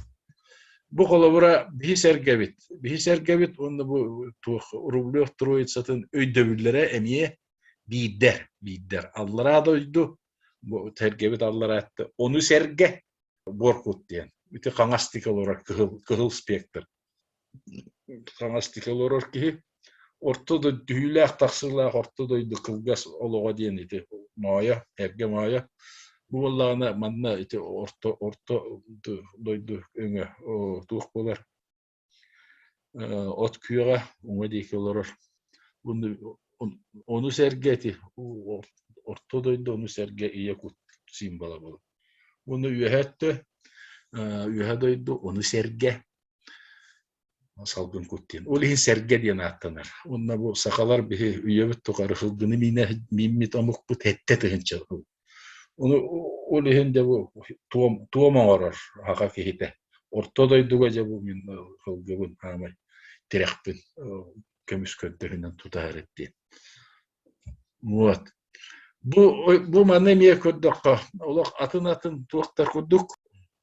Бу холобура биһи сэргэбит. Биһи сэргэбит уонна бу туох Рублев Троицатын өйдөбүллэрэ эмиэ биирдэр, биирдэр. Аллараа дойду, бу сэргэбит аллараатта ону сэргэ Боркут диэн ити хаҥастык олорор кыһыл кыһыл спектр хаҥастык олорор киһи орто дойду түһүүлээх тахсыылаах орто дойду кылгас олоҕо диэн ити моойо эргэ моойо бу буоллаҕына манна ити орто орто дойду өҥө туох буолар от күөҕэ уҥа диэки олорор. Ону сэргэ ити орто дойду ону сэргэ ийэ кут символа буолар. Уну үөһэ өттө, үөһэ дойду ону сэргэ салгын кут диэн. Ол иһин сэргэ диэн ааттанар. Онно бу сахалар биһи үйэбит тухары хылгыны миинэ мииммит омукпут хэттэ тыһынча Ол иһин дьэ бу туом туом оҥорор аҕа киһитэ. Орто дойдуга дьэ бу мин кылгыбын хаамай тирэхпин көмүс көрдөһүнэн тутаһар диэн. Вот. Бу бу маны эмиэ көрдөххө олох атын-атын туох да курдук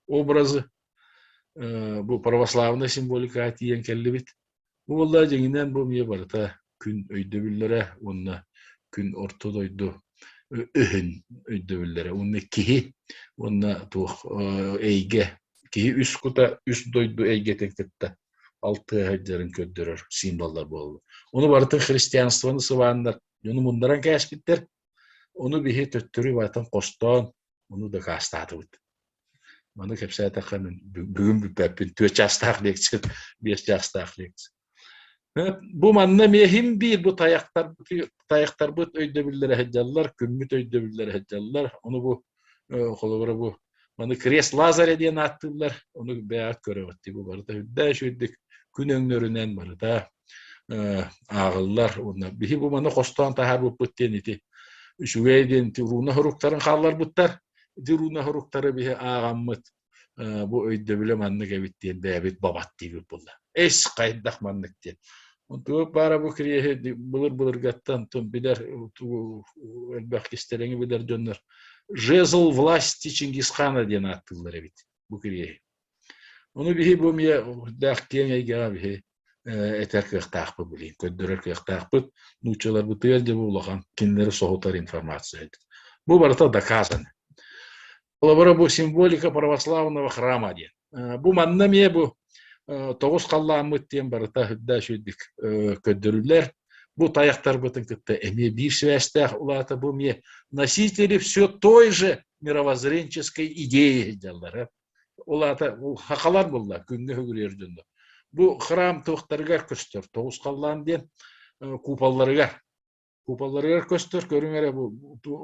образы бу православная символика тиийэн кэллибит. Уоллаа дьиҥинэн бу эмиэ барыта күн өйдөбүллэрэ уонна күн орто дойду өһүн өйдөбүллэрэ уонна киһи уонна туох эйгэ киһи үс кута үс дойду эйгэтин кытта алтыһа сылдьарын көрдөрөр символлар буолаллар. Ону барытын христианствоны сыбааннар дьону муннаран кээспиттэр. Ону биһи төттөрү барытын хостоон, ону дакаастаатыбыт. Маны кэпсээтэххэ мин бүгүн бүппэппин түөрт чаастаах лекция, биэс чаастаах лекция. Бу манна миэхим биир бу тайахтарбыт өйдөбүллэрэ сылдьаллар, күммүт өйдөбүллэрэ сылдьаллар. Ону бу холобура бу маны крест Лазаря диэн ааттыыллар. Ону бэйэҕит көрөҕүт. Бу барыта үрдээш үрдүк күн өҥнөрүнэн барыта ааҕыллар уонна биһи бу маны хостоон таһаарбыппыт диэн ити үчүгэй диэн ити руна хоруктарын хаалларбыттар ити руна хоруктары биһи ааҕаммыт бу өйдөбүлэ маннык эбит диэн бэйэбит бабаттыыбыт буолла эс хайдах маннык диэн туох баара бу кириэһи былыр-былыргаттан тун билэр элбэх кистэлэҥи билэр дьоннор жезл власти чингисхана диэн ааттыыллар эбит бу кириэһи Ону биһи бу эмиэ даах киэҥ эйгэҕэ биһи этэр кыахтаахпыт билигин, көрдөрөр кыахтаахпыт. Нууччаларбытыгар дьэ бу улахан кинилэри соһутар информация эбит. Бу барыта доказано. Холобура бу символика православного храма диэн. Бу манна эмиэ бу тоҕус халлааммыт диэн барыта үрдэ үчүгэйдик көрдөрүлэр. Бу тайахтарбытын кытта эмиэ биир сибээстээх улаата бу эмиэ носители все той же мировоззренческой идеи дьаллара Ол аата хахалар булла күҥҥэ үгүрүйэр дьонно. Бу храм туохтарыгар көстөр? Тоҕус халлаан диэн куполларыгар. Куполларыгар көстөр, көрүҥ эрэ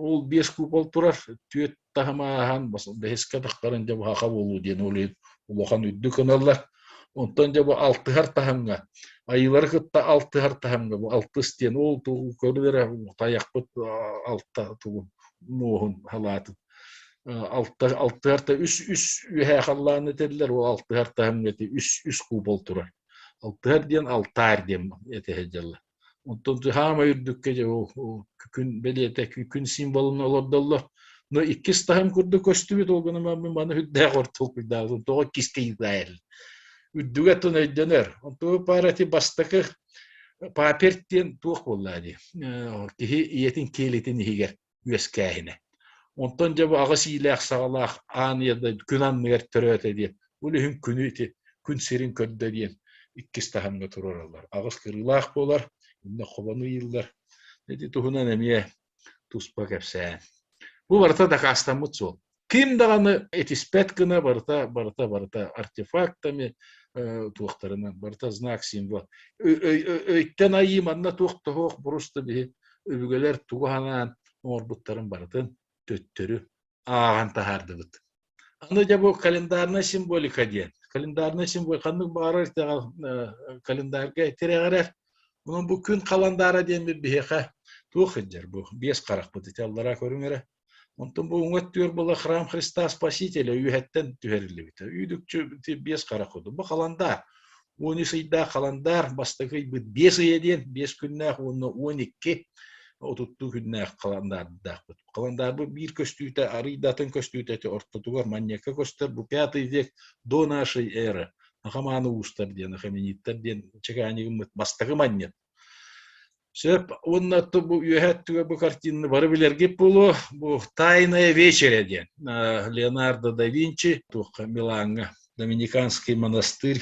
ол биэс купол турар, түөрт таһымааһан бэһискэ тахтарын дьэ бу хаха буолуу диэн улахан улахан үрдүк ыналлар. Онтон дьэ бу алтыһар таһымҥа, айыылары кытта алтыһар таһымҥа бу алтыс диэн ол тугу көрдөр эрэ тайахпыт алта тугун муоһун халаатын алта артта үс үс үөһэ халлаан этэллэр ол алтыһар таһымҥыты үс үс купол турар алтыһар диэн алтаар диэн этэ дьалла оттон хаамай үрдүккэ дьэ күн бэлиэтэ күн символун олордоллор но иккис таһым курдук көстүбүт ол гына маны үрдээх ортолкуйдаабытын тоҕо киске ыытаайыр үрдүгэ тун өйдөнөр онтуу парати бастакы папер диэн туох буоллаа дии киһи ийэтин киэлитин иһигэр үөскээһинэ. Онтон дьэ бу аҕыс иилээх-саҕалаах аан ийэ күн анныгар төрөөтө диэн, бу үлүһүн күнү ити күн сирин көрдө диэн иккис таһымҥа туруораллар. Аҕыс кырыылаах буолар, иннэ хобону ыйыыллар. Ити туһунан эмиэ туспа кэпсээн. Бу барыта дакаастаммыт суол. ким даҕаны этиспэт гына барыта барыта барыта артефактами туохтарынан барыта знак символ өйтөн айыы манна туох да суох буруста биһи өбүгэлэр тугу санаан оҥорбуттарын барытын төттөрү ааҕан таһаардыбыт аны дьэ бу календарная символика диэн календарный символ ханнык баарар календарьга тирэҕирэр онон бу күн каландара диэн биһиэхэ туох сылдьар бу биэс харахпыт ити аллараа көрүҥ эрэ Онтон бүгүҥҥү өттүгэр была храм Христа Спасителя үөһэттэн түһэриллибитэ. Үүдүкчү биэс хара куду. Бу халандаар. Уон үс ыйдаах халандаар бастакы ыйбыт биэс ыйа диэн биэс күннээх уонна уон икки отуттуу күннээх халандаардаахпыт. Халандаарбыт биир көстүүтэ арыйдатын көстүүтэ ортотугар манньакка көстөр бу пятый век до нашей эры. Ахамааны уустар диэн, ахамениттар диэн чекаанигыммыт бастакы манньык Сөп уонна бу үөһэ өттүгэр бу картины бары билэргит буолуо. Бу «Тайная вечеря» диэн Леонардо да Винчи туохха Милаҥҥа Доминиканский монастырь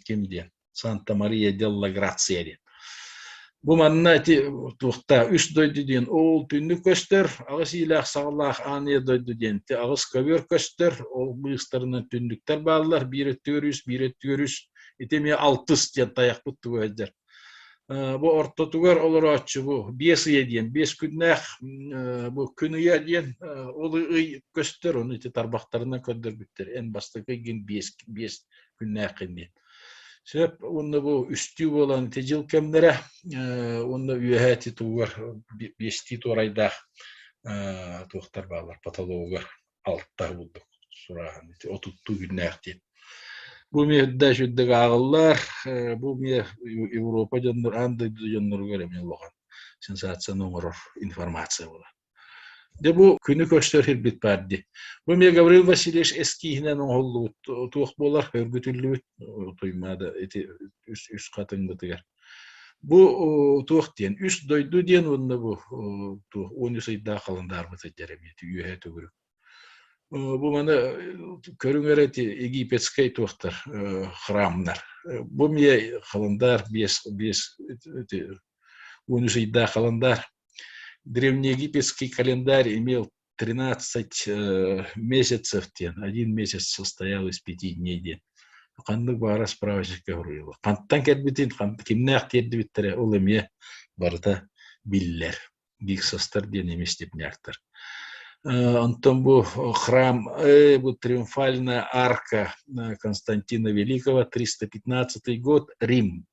ким диэн Санта-Мария делла Грация диэн. Бу манна ити туохта үс дойду диэн ол түннүк көстөр, аҕыс иилээх саҕалаах ааныя дойду диэн аҕыс көбүөр көстөр, ол быыстарынан түннүктэр бааллар, биир өттүгэр үс, биир өттүгэр үс. Ити эмиэ алтыс диэн тайахпыт тугу сылдьар. Бу ортотугар олорооччубу биэс ыйа диэн биэс күннээх бу күн ыйа диэн ол ый көстөр оны ити тарбахтарынан көрдөрбүттэр эн бастакы ыйгын биэс биэс күннээххин диэн сөп уонна бу үстүү буолан ити дьыл кэмнэрэ уонна үөһэ ити тугугар биэстии туорайдаах туохтар баалар патологугар алтар курдук сурааһын отуттуу күннээх диэн бу эмиэ үрдэ сүрдүк ааҕыллар бу эмиэ европа дьоннор аан дойду дьонноругар эмиэ улахан сенсацияны оҥорор информация буолар Де бу күнү көрсөр ирбит баар ди. Бу мне Гаврил Васильевич эскииһинэн оҥоһуллубут туох буолар өргүтүллүбүт Туймаада ити үс хатын бытыгар Бу туох диэн үс дойду диэн уонна бу он үс ыйдаах халандаарбыт сылдьар эбит үөһэ төгүрүк. Бу маны көрүҥэр эти египетскэй туохтар храмнар. Бу мие халандаар биэс биэс он үс ыйдаах халандаар. Древнеегипетский календарь имел 13 месяцев диэн один месяц состоял из пяти дней диэн ханнык баара справочника суруйула хантан кэлбитин кимнээх тиэрдибиттэрэ ол эмиэ барыта биллэр биксостар диэн эмиэ степняктар Антон бу храм, бу триумфальная арка Константина Великого, 315 год, Рим.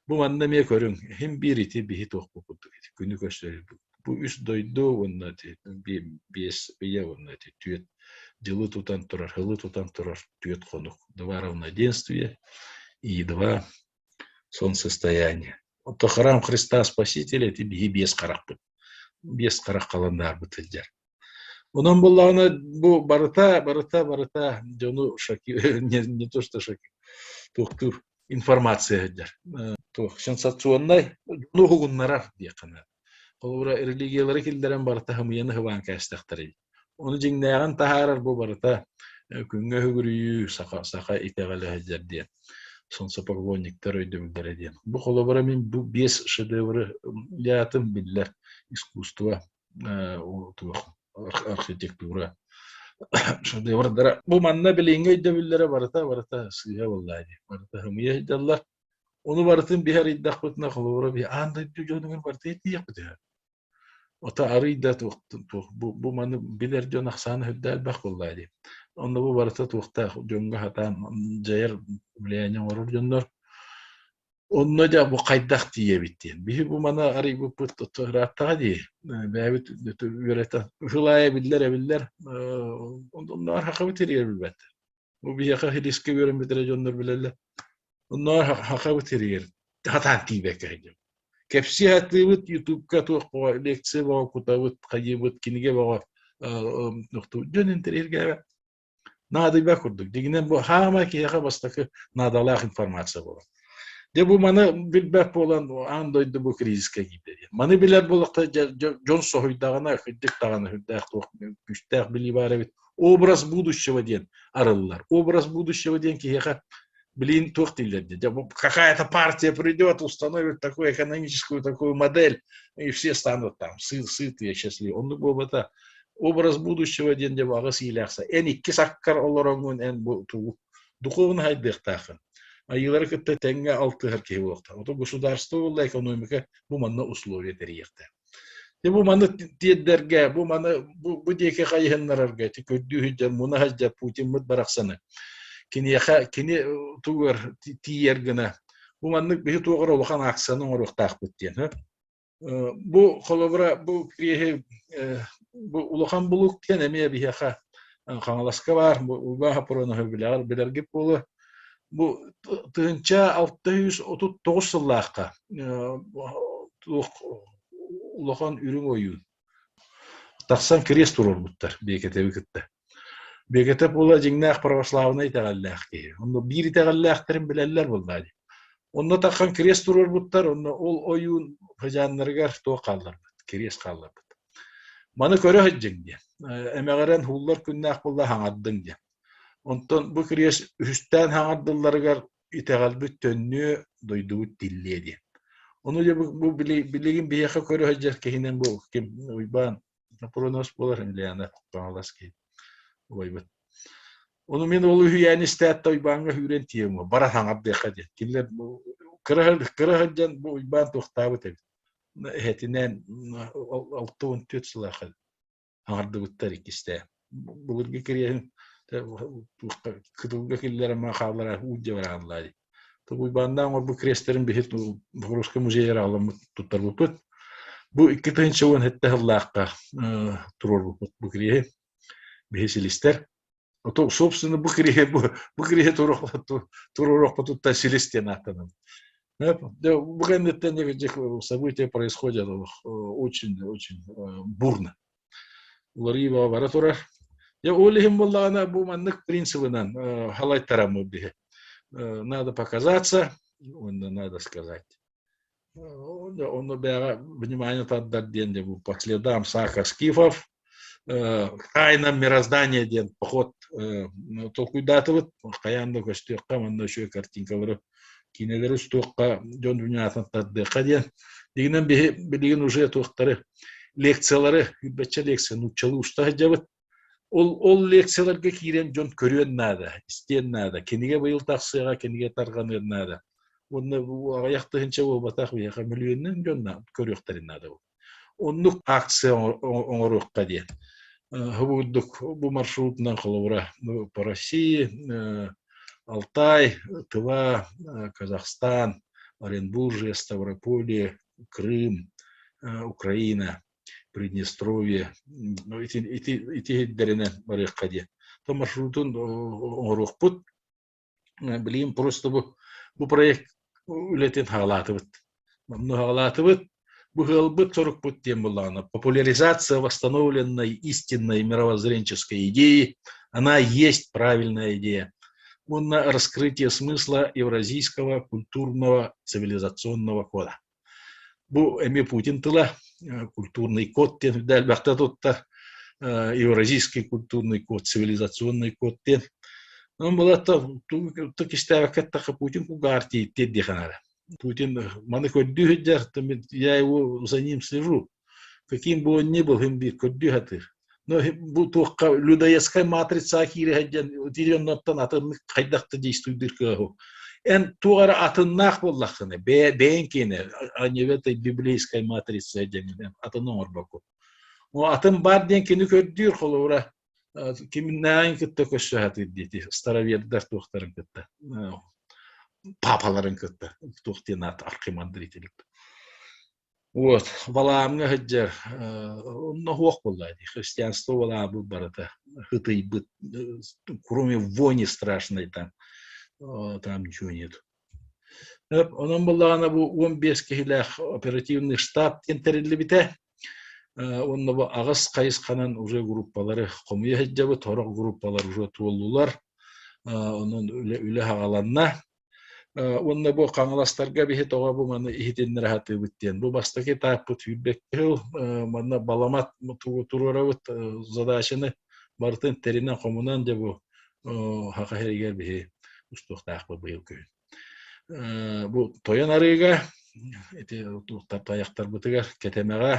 Бу манна эмиэ көрүҥ, хим биир ити биһи туох бу курдук күнү көрсөрүбүт бу үс дойду уонна биэс ийэ уонна түөрт дьылы тутан турар сылы тутан турар түөрт хонук два равноденствия и два солнцестояния ото харам христа спаситель эти биһи биэс харахпыт биэс харах халаннаарбыт сылдьар Онон буоллаҕына бу барыта, барыта, барыта дьону шоки, не то что шоки, туохтуур информация сылдьар. Туох сенсационнай дьону уһугуннарар диэххэ Холобура, религиялары киллэрэн барыта хымыйан ыһываан кээстэхтэрэ. Оны дьиҥнээҕин таһаарар бу барыта күҥҥэ үгүрүйүү саха саха итэҕэлэ сылдьар диэн сонсо поклонниктар өйдөбүллэрэ диэн. Бу холобура мин бу биэс шедевры аатын биллэр искусство архитектура шедеврдара бу манна билиҥҥи өйдөбүллэрэ барыта барыта сыыһа буоллаа дии барыта хымыйа ыйдаллар ону барытын биһ арыйдахпытына холобура биһ аан дойду дьонугар барыта иитиэхпит үһү ото арый да туох бу маны билэр дьон ахсаана сүрдээх элбэх буоллаа дии онно бу барыта туохтаах дьоҥҥо хатаан дьайар влияние оҥорор дьоннор Онно дьэ бу хайдах тиийэбит диэн. Биһи бу мана арыйбыппыт тото ырааттаҕа дии. Бэйэбит үөрэтэн ушулаайа биллэр эбиллэр. Онноор хахабы тириэр билбэт. Бу биһиэхэ риски үөрэммитэрэ дьоннор билэллэр. Онноор хахабы тириэр хатаан тиийбэккэ Кэпсии атыыбыт ютубка туох боҕо лекция боҕо кутабыт хайыбыт киниге боҕо нохту дьон интирииргээбэ наадыйбат курдук дигинен бу хаама киһиэхэ бастакы наадалаах информация буолар Де бу маны билбэт буолан аан дойду бу кризискэ киирдэ Маны билэр болохта дьон соһуйдаҕына күндүк даҕаны үрдээх туох күстээх билии баар эбит образ будущего диэн арыллар образ будущего диэн киһиэхэ блин, туох дииллэр дии, какая-то партия придет, установит такую экономическую такую модель, и все станут там сытые, счастливые. Оннук буолбата образ будущего диэн дьэ аҕыс иилээхсэ эн икки саккар олороҥҥун эн бу туу духуобун хайдыахтаахын айыылары кытта тэҥҥэ алтыһар киһи буолуохтаах ото государство буолла экономика бу манна условия тэрийиэхтээх Бу маны тиэрдэргэ, бу маны бу, бу диэки хайыһыннарарга ити көрдүү сылдьар муна сылдьар Путиммыт барахсаны киниэхэ кини тугар тиийэр гына бу маннык биһи туоҕар улахан ааксаны оҥоруохтаахпыт диэн бу холобура бу киһи бу улахан булук диэн эмиэ биһиэхэ Хаҥаласка баар бу Уга Пороноһу билэргит буолуо Бу тыһыынча алта сүүс отут тоҕус сыллаахха улахан үрүҥ ойуун тахсан крест туруорбуттар Биэкэтэби кытта. Биэкэтэ була дьиҥнээх православнай итэҕэллээх киһи. Онно биир итэҕэллээхтэрин билэллэр буоллаа дии. Онно таххан крест туруорбуттар, онно ол ойуун хажааннарыгар туох хаалларбыт, крест хаалларбыт. Маны көрө сылдьыҥ диэн. Эмэҕирэн һууллар күннээх буолла хаҥардыҥ диэн. Онтон бу кириэс үһүстээн хаҥардылларыгар итэҕэлбит төннүө, дойдубут тиллиэ диэн. Ону дьэ бу билигин биһиэхэ көрө сылдьар киһинэн бу ким Уйбаан Напронос буолар Ильяна Хаҥалас киһи убайбыт. Ону мин ол үһүйээн истээт Уйбааҥҥа сүүрэн тиийэм бара хаҥардыахха диэн. Кинилэр кыра кыра сылдьан бу Уйбаан туохтаабыт эбит. Эһэтинээн алта он төрт сылаах аҥардыбыттар иккистэй былыргы кириэһин кытылга киллэрэн хааллара уу дьабыраанлаа дии то Уйбааннаан оҥорбут креестерин биһи Богородскай музейыгар аҕаламмыт туттарбыппыт бу икки тыһыынча уон сэттэ сыллаахха туруорбуппут бу кириэһи биһи силистэр то собственно бу кириһи бу бу кириһи туруорохпутуттан силис диэн ааттанабын бу кэнниттэн этих события происходят очень очень бурно уларыы бара турар я ол иһин буоллаҕына бу маннык принципынан халайтараммыт биһи надо показаться уонна надо сказать Да, ону бэҕэ внимание тардар диэн де по следам Сака Скифов Хайна мироздание диэн поход толкуйдаатыбыт хайаан да көстүөххэ манна үчүгэй картинкалары киинэлэри устуохха дьон вниманиятын тардыахха диэн дигинэн биһи билигин уже туохтары лекциялары үрбэччэ лекция нууччалыы уста сылдьабыт Ол, ол лекцияларга киирэн дьон көрүөн наада, истиэн наада. Кинигэ быйыл тахсыаҕа, кинигэ тарҕаныан наада. Уонна бу аҕыйах тыһыынча буолбатах биһиэхэ мөлүйүөннэн дьон көрүөхтэрин наада. Оннук акция оҥоруохха диэн. Хабурдук бу маршрутунан холобура по России, Алтай, Тыва, Казахстан, Оренбуржье, Ставрополе, Крым, Украина – Приднестровье ити, ити, ити иһирдэринэн барыахха диэн. То маршрутун оҥоруохпут. Билим просто бу, бу проект үлэтин хаалаатыбыт. Манну хаалаатыбыт, бу ыалбыт сорукпут диэн булаана. Популяризация восстановленной истинной мировоззренческой идеи, она есть правильная идея. Уонна раскрытие смысла Евразийского культурного цивилизационного кода. Бу эмиэ Путин тыла, культурный код диэн элбэхтэ тутта, Евразийский культурный код, цивилизационный код диэн. Он былатта тук истээбэккэ тахха Путин кугаар тииттиэр диэхэн эрэ. Путин маны көрдүү сылдьар, я его за ним слежу. Каким бы он ни был, им биир көрдүү сатыыр. Но бу туохха людоедская матрица киире сылдьан утиренноттон атыннык хайдах да действуйдыр кыаһу. Эн туох эрэ атыннаах буоллаххына, бэйэ бэйэн киэнэ аньевета библейская матрица дьэҥинэ атын оҥорбокку. О атын бар диэн кини көрдүүр холобура кимнээн кытта көссө сатыыр диэти старовердар туохтарын кытта папаларын кытта туох диэн аат архимандрителик Вот, балаамҥа сылдьар, онно суох буолла дии, христианство балаабыт барыта хытыйбыт, кроме вони страшной там, там ничего нет. Онон былаана бу он бес киһилээх оперативный штаб диэн тэриллибитэ. Онно бу аҕыс хайысханан уже группалары хомуйа сылдьабыт, сорох группалар уже туоллулар. Онон үлэ үлэ хаҕаланна. Уонна бу хаҥаластарга биһи тоҕо бу маны иһитиннэре сатыыбыт диэн. Бу бастакы этаппыт сүүрбэкки сыл. Манна баламат туруорабыт задачаны барытын тэринэн-хомунан дьэ бу хаха херигер биһи устуохтаахпыт быйыл күн. Бу тойон арыыга ити таяктарбытыгар кэтэмэҕэ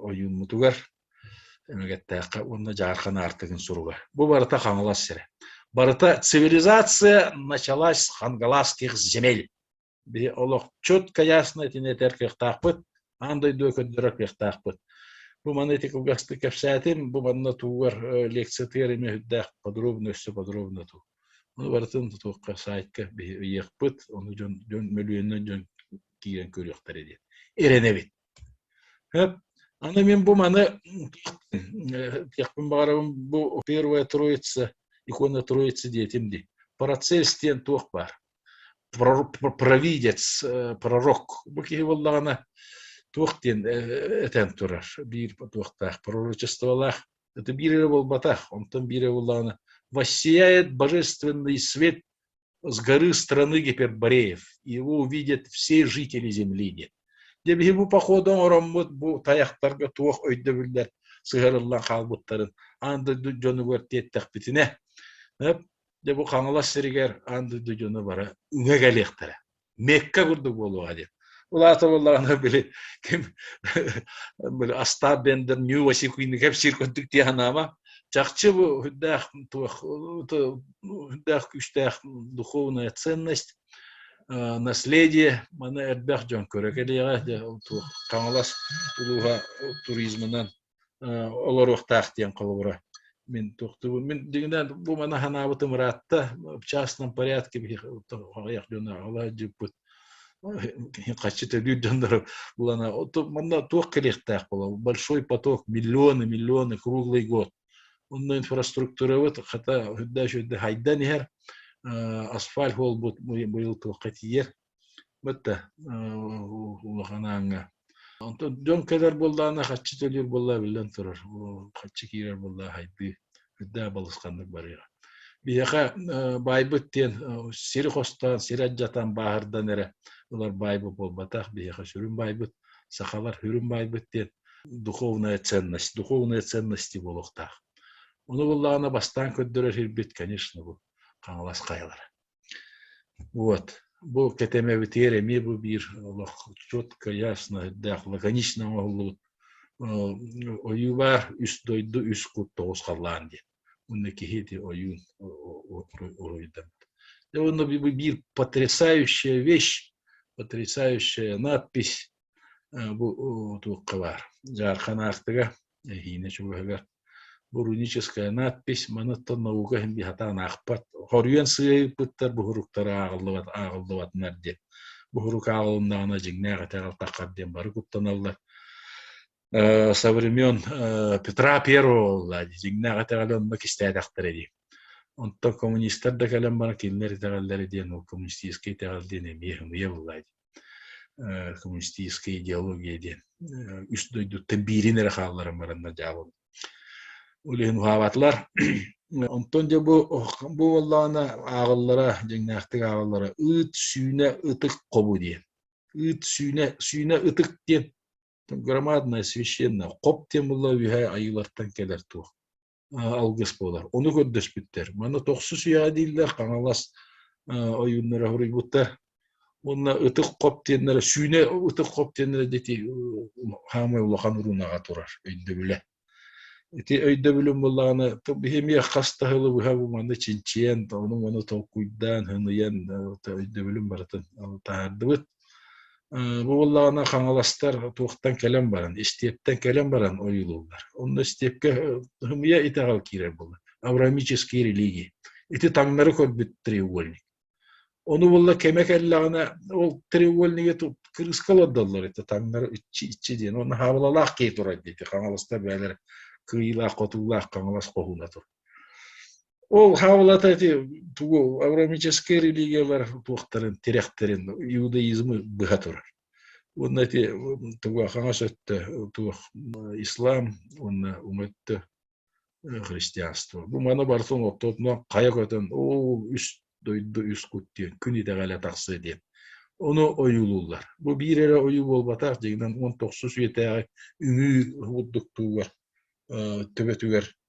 ойууммутугар эмэгэттээххэ уонна дьаархан аартыгын суруга. Бу барыта Хаҥалас сирэ. Барыта цивилизация началась с хангаласских земель. Били олохчут, конечно, итинэтэр кыахтаахпыт, аан дойду көрдөрөр кыахтаахпыт. Бу маны ити кылгастык кэпсээтим, бу манна туугар лекциятыгар эмэ үрдээх подробно өссө подробно туу. Ону барытын тутуохха сайтка үйэхпит, ону дьон мөлүйөннөн дьон киирэн көрүөхтэрэ диэн эрэнэбит Хөп. Аны мин бу маны диэхпин баҕарабын бу первая троица икона троицы диэтим дии процесс диэн туох баар провидец э, пророк бу киһи буоллаҕына туох диэн э, этэн турар биир туохтаах пророчестволаах это биир эрэ буолбатах онтон биир эрэ буоллаҕына воссияет божественный свет с горы страны Гипербореев, его увидят все жители Земли, Дьэ, биһиги походу оҥороммут бу тайахтарга туох өйдөбүллэр сыһыарыллан хаалбыттарын аан дойду дьонугар тиэттэхпитинэ, дьэ бу Хаҥалас сиригэр аан дойду дьоно бара үҥэ кэлиэхтэрэ. Мекка курдук буолуоҕа диэн. Улааталыларына били ким били астаап бендер New Осикуйникеп сиркөттүк тиэханаама чахчы бу хүндээх туох хүндээх күстээх духовная ценность наследие маны эрбэх дьон көрө кэлиэҕэ туох Хаҥалас улууһа туризмынан олоруохтаах диэн холобура мин туохтубун мин дигинэ бу мана ханаабытым ыраатта в частном порядке биһи аҕыйах дьону аҕала дьыппыт хаччы төлүүр дьоннор булана манна туох кэлиэхтээх була большой поток миллионы миллионы круглый год онно инфраструктурабыт хата үрдэ-үөрдэ хайдан иһэр асфальт уолбут быйыл туохха тиийэр Бата улахан ааҥҥа. Онтон дьон кэлэр буоллаҕына хаччы төлүүр буоллаа биллэн турар. Хаччы киирэр буоллаа хайдыы үрдээх балысханнык барыаҕа. Биһиэхэ баайбыт диэн сири хостоон, сири адьатан бааһырдан эрэ ылар баайбыт буолбатах. Биһиэхэ сүрүн баайбыт сахалар үрүн баайбыт диэн духовная ценность, духовные ценности буолуохтаах. Ону буллаҕына бастаан көрдөрөр сирбит, конечно, бу Хаҥалас хайалара. Вот. Бу кэтэмэбитигэр эмиэ бу биир олох чот кыйааснаһырдаах лаконично оҥоһуллубут ойуулар үс дойду үс кут тоҕус халлаан диэн. Уонна киһи ити ойуун уруйдамыт. И оно биир потрясающая вещь, потрясающая надпись бу туохха баар дьаархан аартыга эһиинэ чугаһыгар бу руническая надпись маныттан наука иһин сатаан аахпат хоруйан сыыйпыттар буһуруктара ааҕыллыбат ааҕыллыбатынар диэн буһурук ааҕылыннаҕына дьиҥнээх этэҕэр таххар диэн бары куттаналлар со времен петра первого дьиҥнээх этэҕэлэ онно кистээтэхтэрэ дии онтон коммунистар да кэлэн баран кинилэр итэҕэллэрэ диэн ол коммунистическай итэҕэл диэн эмиэ хымыйа буолаай коммунистическая идеология диэн үс дойдуттан биирин эрэ хаалларан баран дьаабын үлүһүн уһаабатылар онтон дьэ бу бу буоллаҕына ааҕыллара дьиҥнээхтик ааҕыллара ыт сүүнэ ытык хобу диэн ыт сүүнэ сүүнэ ытык диэн громадное священное хоп диэн була үһэ айыылартан кэлэр туох алгыс буолар. Ону көрдөспүттэр. Маны тохсу сүйэҕэ дииллэр Хаҥалас ойууннара хоруйбутта. Уонна ытык хоп диэннэрэ, сүүнэ ытык хоп диэннэрэ дети хаамай улахан уруунаҕа турар өйдөбүлэ. Ити өйдөбүлүн буллаҕына биһимиэ хас таһылы быһа бу манны чинчийэн, ону-маны толкуйдаан, хыныйан өйдөбүлүн барытын таһардыбыт. Бу буоллаҕына хаҥаластар туохтан кэлэн баран, истиэптэн кэлэн баран ойуулууллар. Онно истиэпкэ хымыйа итэҕэл киирэр буолар. Авраамические религии. Ити таҥнары көрбүт треугольник. Ону булла кэмэ кэллэҕинэ ол треугольниге кырыыска олордоллор ити таҥнары иччи иччи диэн. Уонна хаабылалаах киһи турар диэти хаҥаласта бэйэлэрэ кыайыылаах хотуулаах хаҥалас хоһууна тур. Ол хаалата ити тугу агромическай религиялар туохтарын тирэхтэрин иудаизмы быһа турар уонна ити тугу хаҥас өттө туох ислам уонна өттө христианство бу маны барыта оҥоттотунан хайа көтөн оо үс дойду үс кут диэн күн итэҕэлэ тахсыа диэн ону ойуулууллар бу биир эрэ ойуу буолбатах дьиҥинэн он тохсус үйэтээҕи үҥүү курдук туугар төбөтүгэр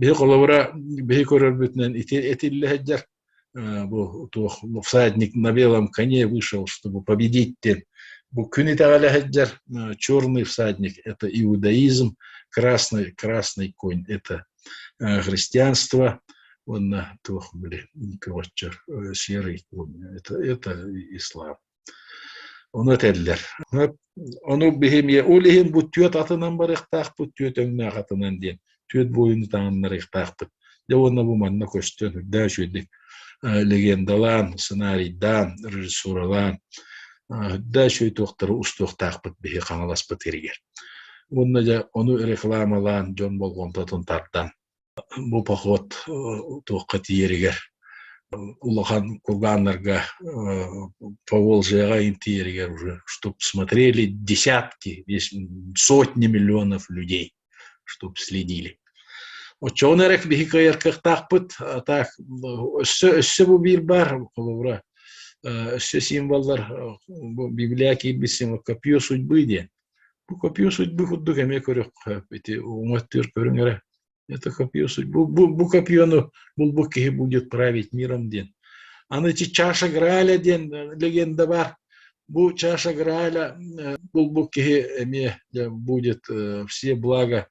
Биһи холобура биһи көрөрбүтүнэн ити этиллэ сылдьар бу туох всадник на белом коне вышел чтобы победить диэн бу күн итэҕэлэ сылдьар черный всадник это иудаизм красный красный конь это христианство уонна туох были короче серый конь это это ислам Ону этэллэр. Ону биһи эмиэ ол иһин бу түөрт атынан барыахтаахпыт, түөрт өҥнөөх атынан диэн түөрт буойуну таҥыннарыахтаахпыт. Дьэ уонна бу манна көстөн үрдээ үчүгэйдик легендалаан, сценарийдаан, режиссуралаан үрдээ үчүгэй туохтары устуохтаахпыт биһи Хаҥаласпыт иһигэр. Уонна дьэ ону рекламалаан дьон болҕомтотун тардан Бу поход туохха тиийэригэр улахан кургааннарга Поволжьеҕа интийэригэр уже чтоб смотрели десятки, сотни миллионов людей, чтоб следили. Оччоҕун эрэ биһи кыайаркахтаахпыт, а так өссө өссө бу биир баар холобура өссө символлар бу библия киирбит символ копье судьбы диэн Бу копия судьбу курдук эмиэ көрүөххэ, ити уҥуоттыыр көрүҥ эрэ. Это копия судьбу. Бу, бу копияны булбут киһи будет править миром диэн. Аны эти чаша Грааля диэн легенда бар. Бу чаша Грааля булбут киһи эмиэ будет все блага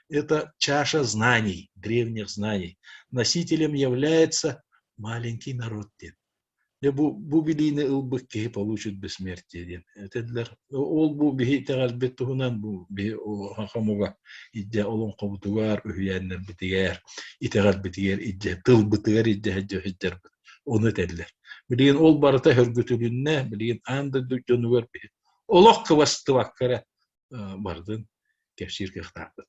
Это чаша знаний, древних знаний. Носителем является маленький народ диэн. Бу, бу билиини ылбыт киһи получит бессмертие диэн этэллэр. Ол бу биһи итэҕэлбит туһунан бу биһи хомуга идде олоҥхобутугар, үһүйээннэрбитигэр, итэҕэлбитигэр идде, тылбытыгар идде сылдьарбыт ону этэллэр. Билигин ол барыта хөргүтүлүннэ, билигин аан дойду дьонугар олох кыбастыбакка эрэ барытын кэпсиир кыахтаахпыт.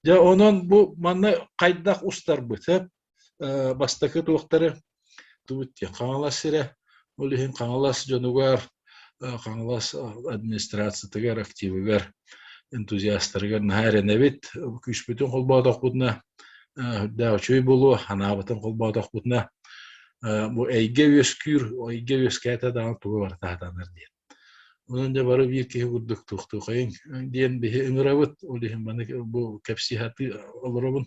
Дьэ, онон бу манна хайдах устарбыт? Бастакы туохтары тубут диэн Хаҥалас сирэ, ол иһин Хаҥалас дьонугар, Хаҥалас администрациятыгар, активыгар, энтузиастарыгар наһаа эрэнэбит. Күүспүтүн холбоотохпутуна, үрдээх үчүгэй буолуо, анаабытын холбоотохпутуна, бу эйгэ үөскүүр, эйгэ үөскээтэ даҕаны тугу бары таһытанар диэн. Онон дьэ бары биир киһи курдук туохтуохайыҥ диэн биһи ыҥырабыт. Ол иһин маны бу кэпсии сатыы олоробун.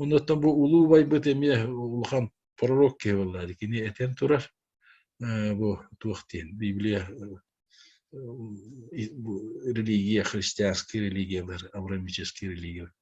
Оннуттан бу улуу убайбыт эмиэ улахан пророк киһи буоллаҕа. Кини этэн турар бу туох диэн Библия религия, христианские религиялар, абрамические религии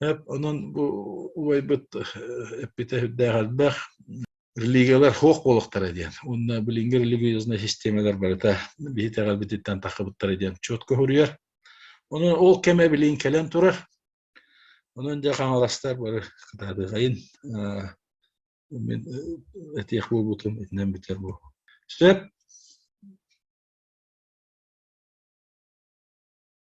Эп онон бу убайбыт эппитэ сүрдээх элбэх. Религиялар суох буолуохтара диэн. Уонна билиҥҥи религиозная системалар барыта биһи эҕэрбититтэн тахсыбыттара диэн четко суруйар. Ону ол кэмэ билигин кэлэн турар. Онон дьэ хаҥаластар бары кытаатыахайын мин этиэх буолбутум итинэн бүтэр бу. Сөп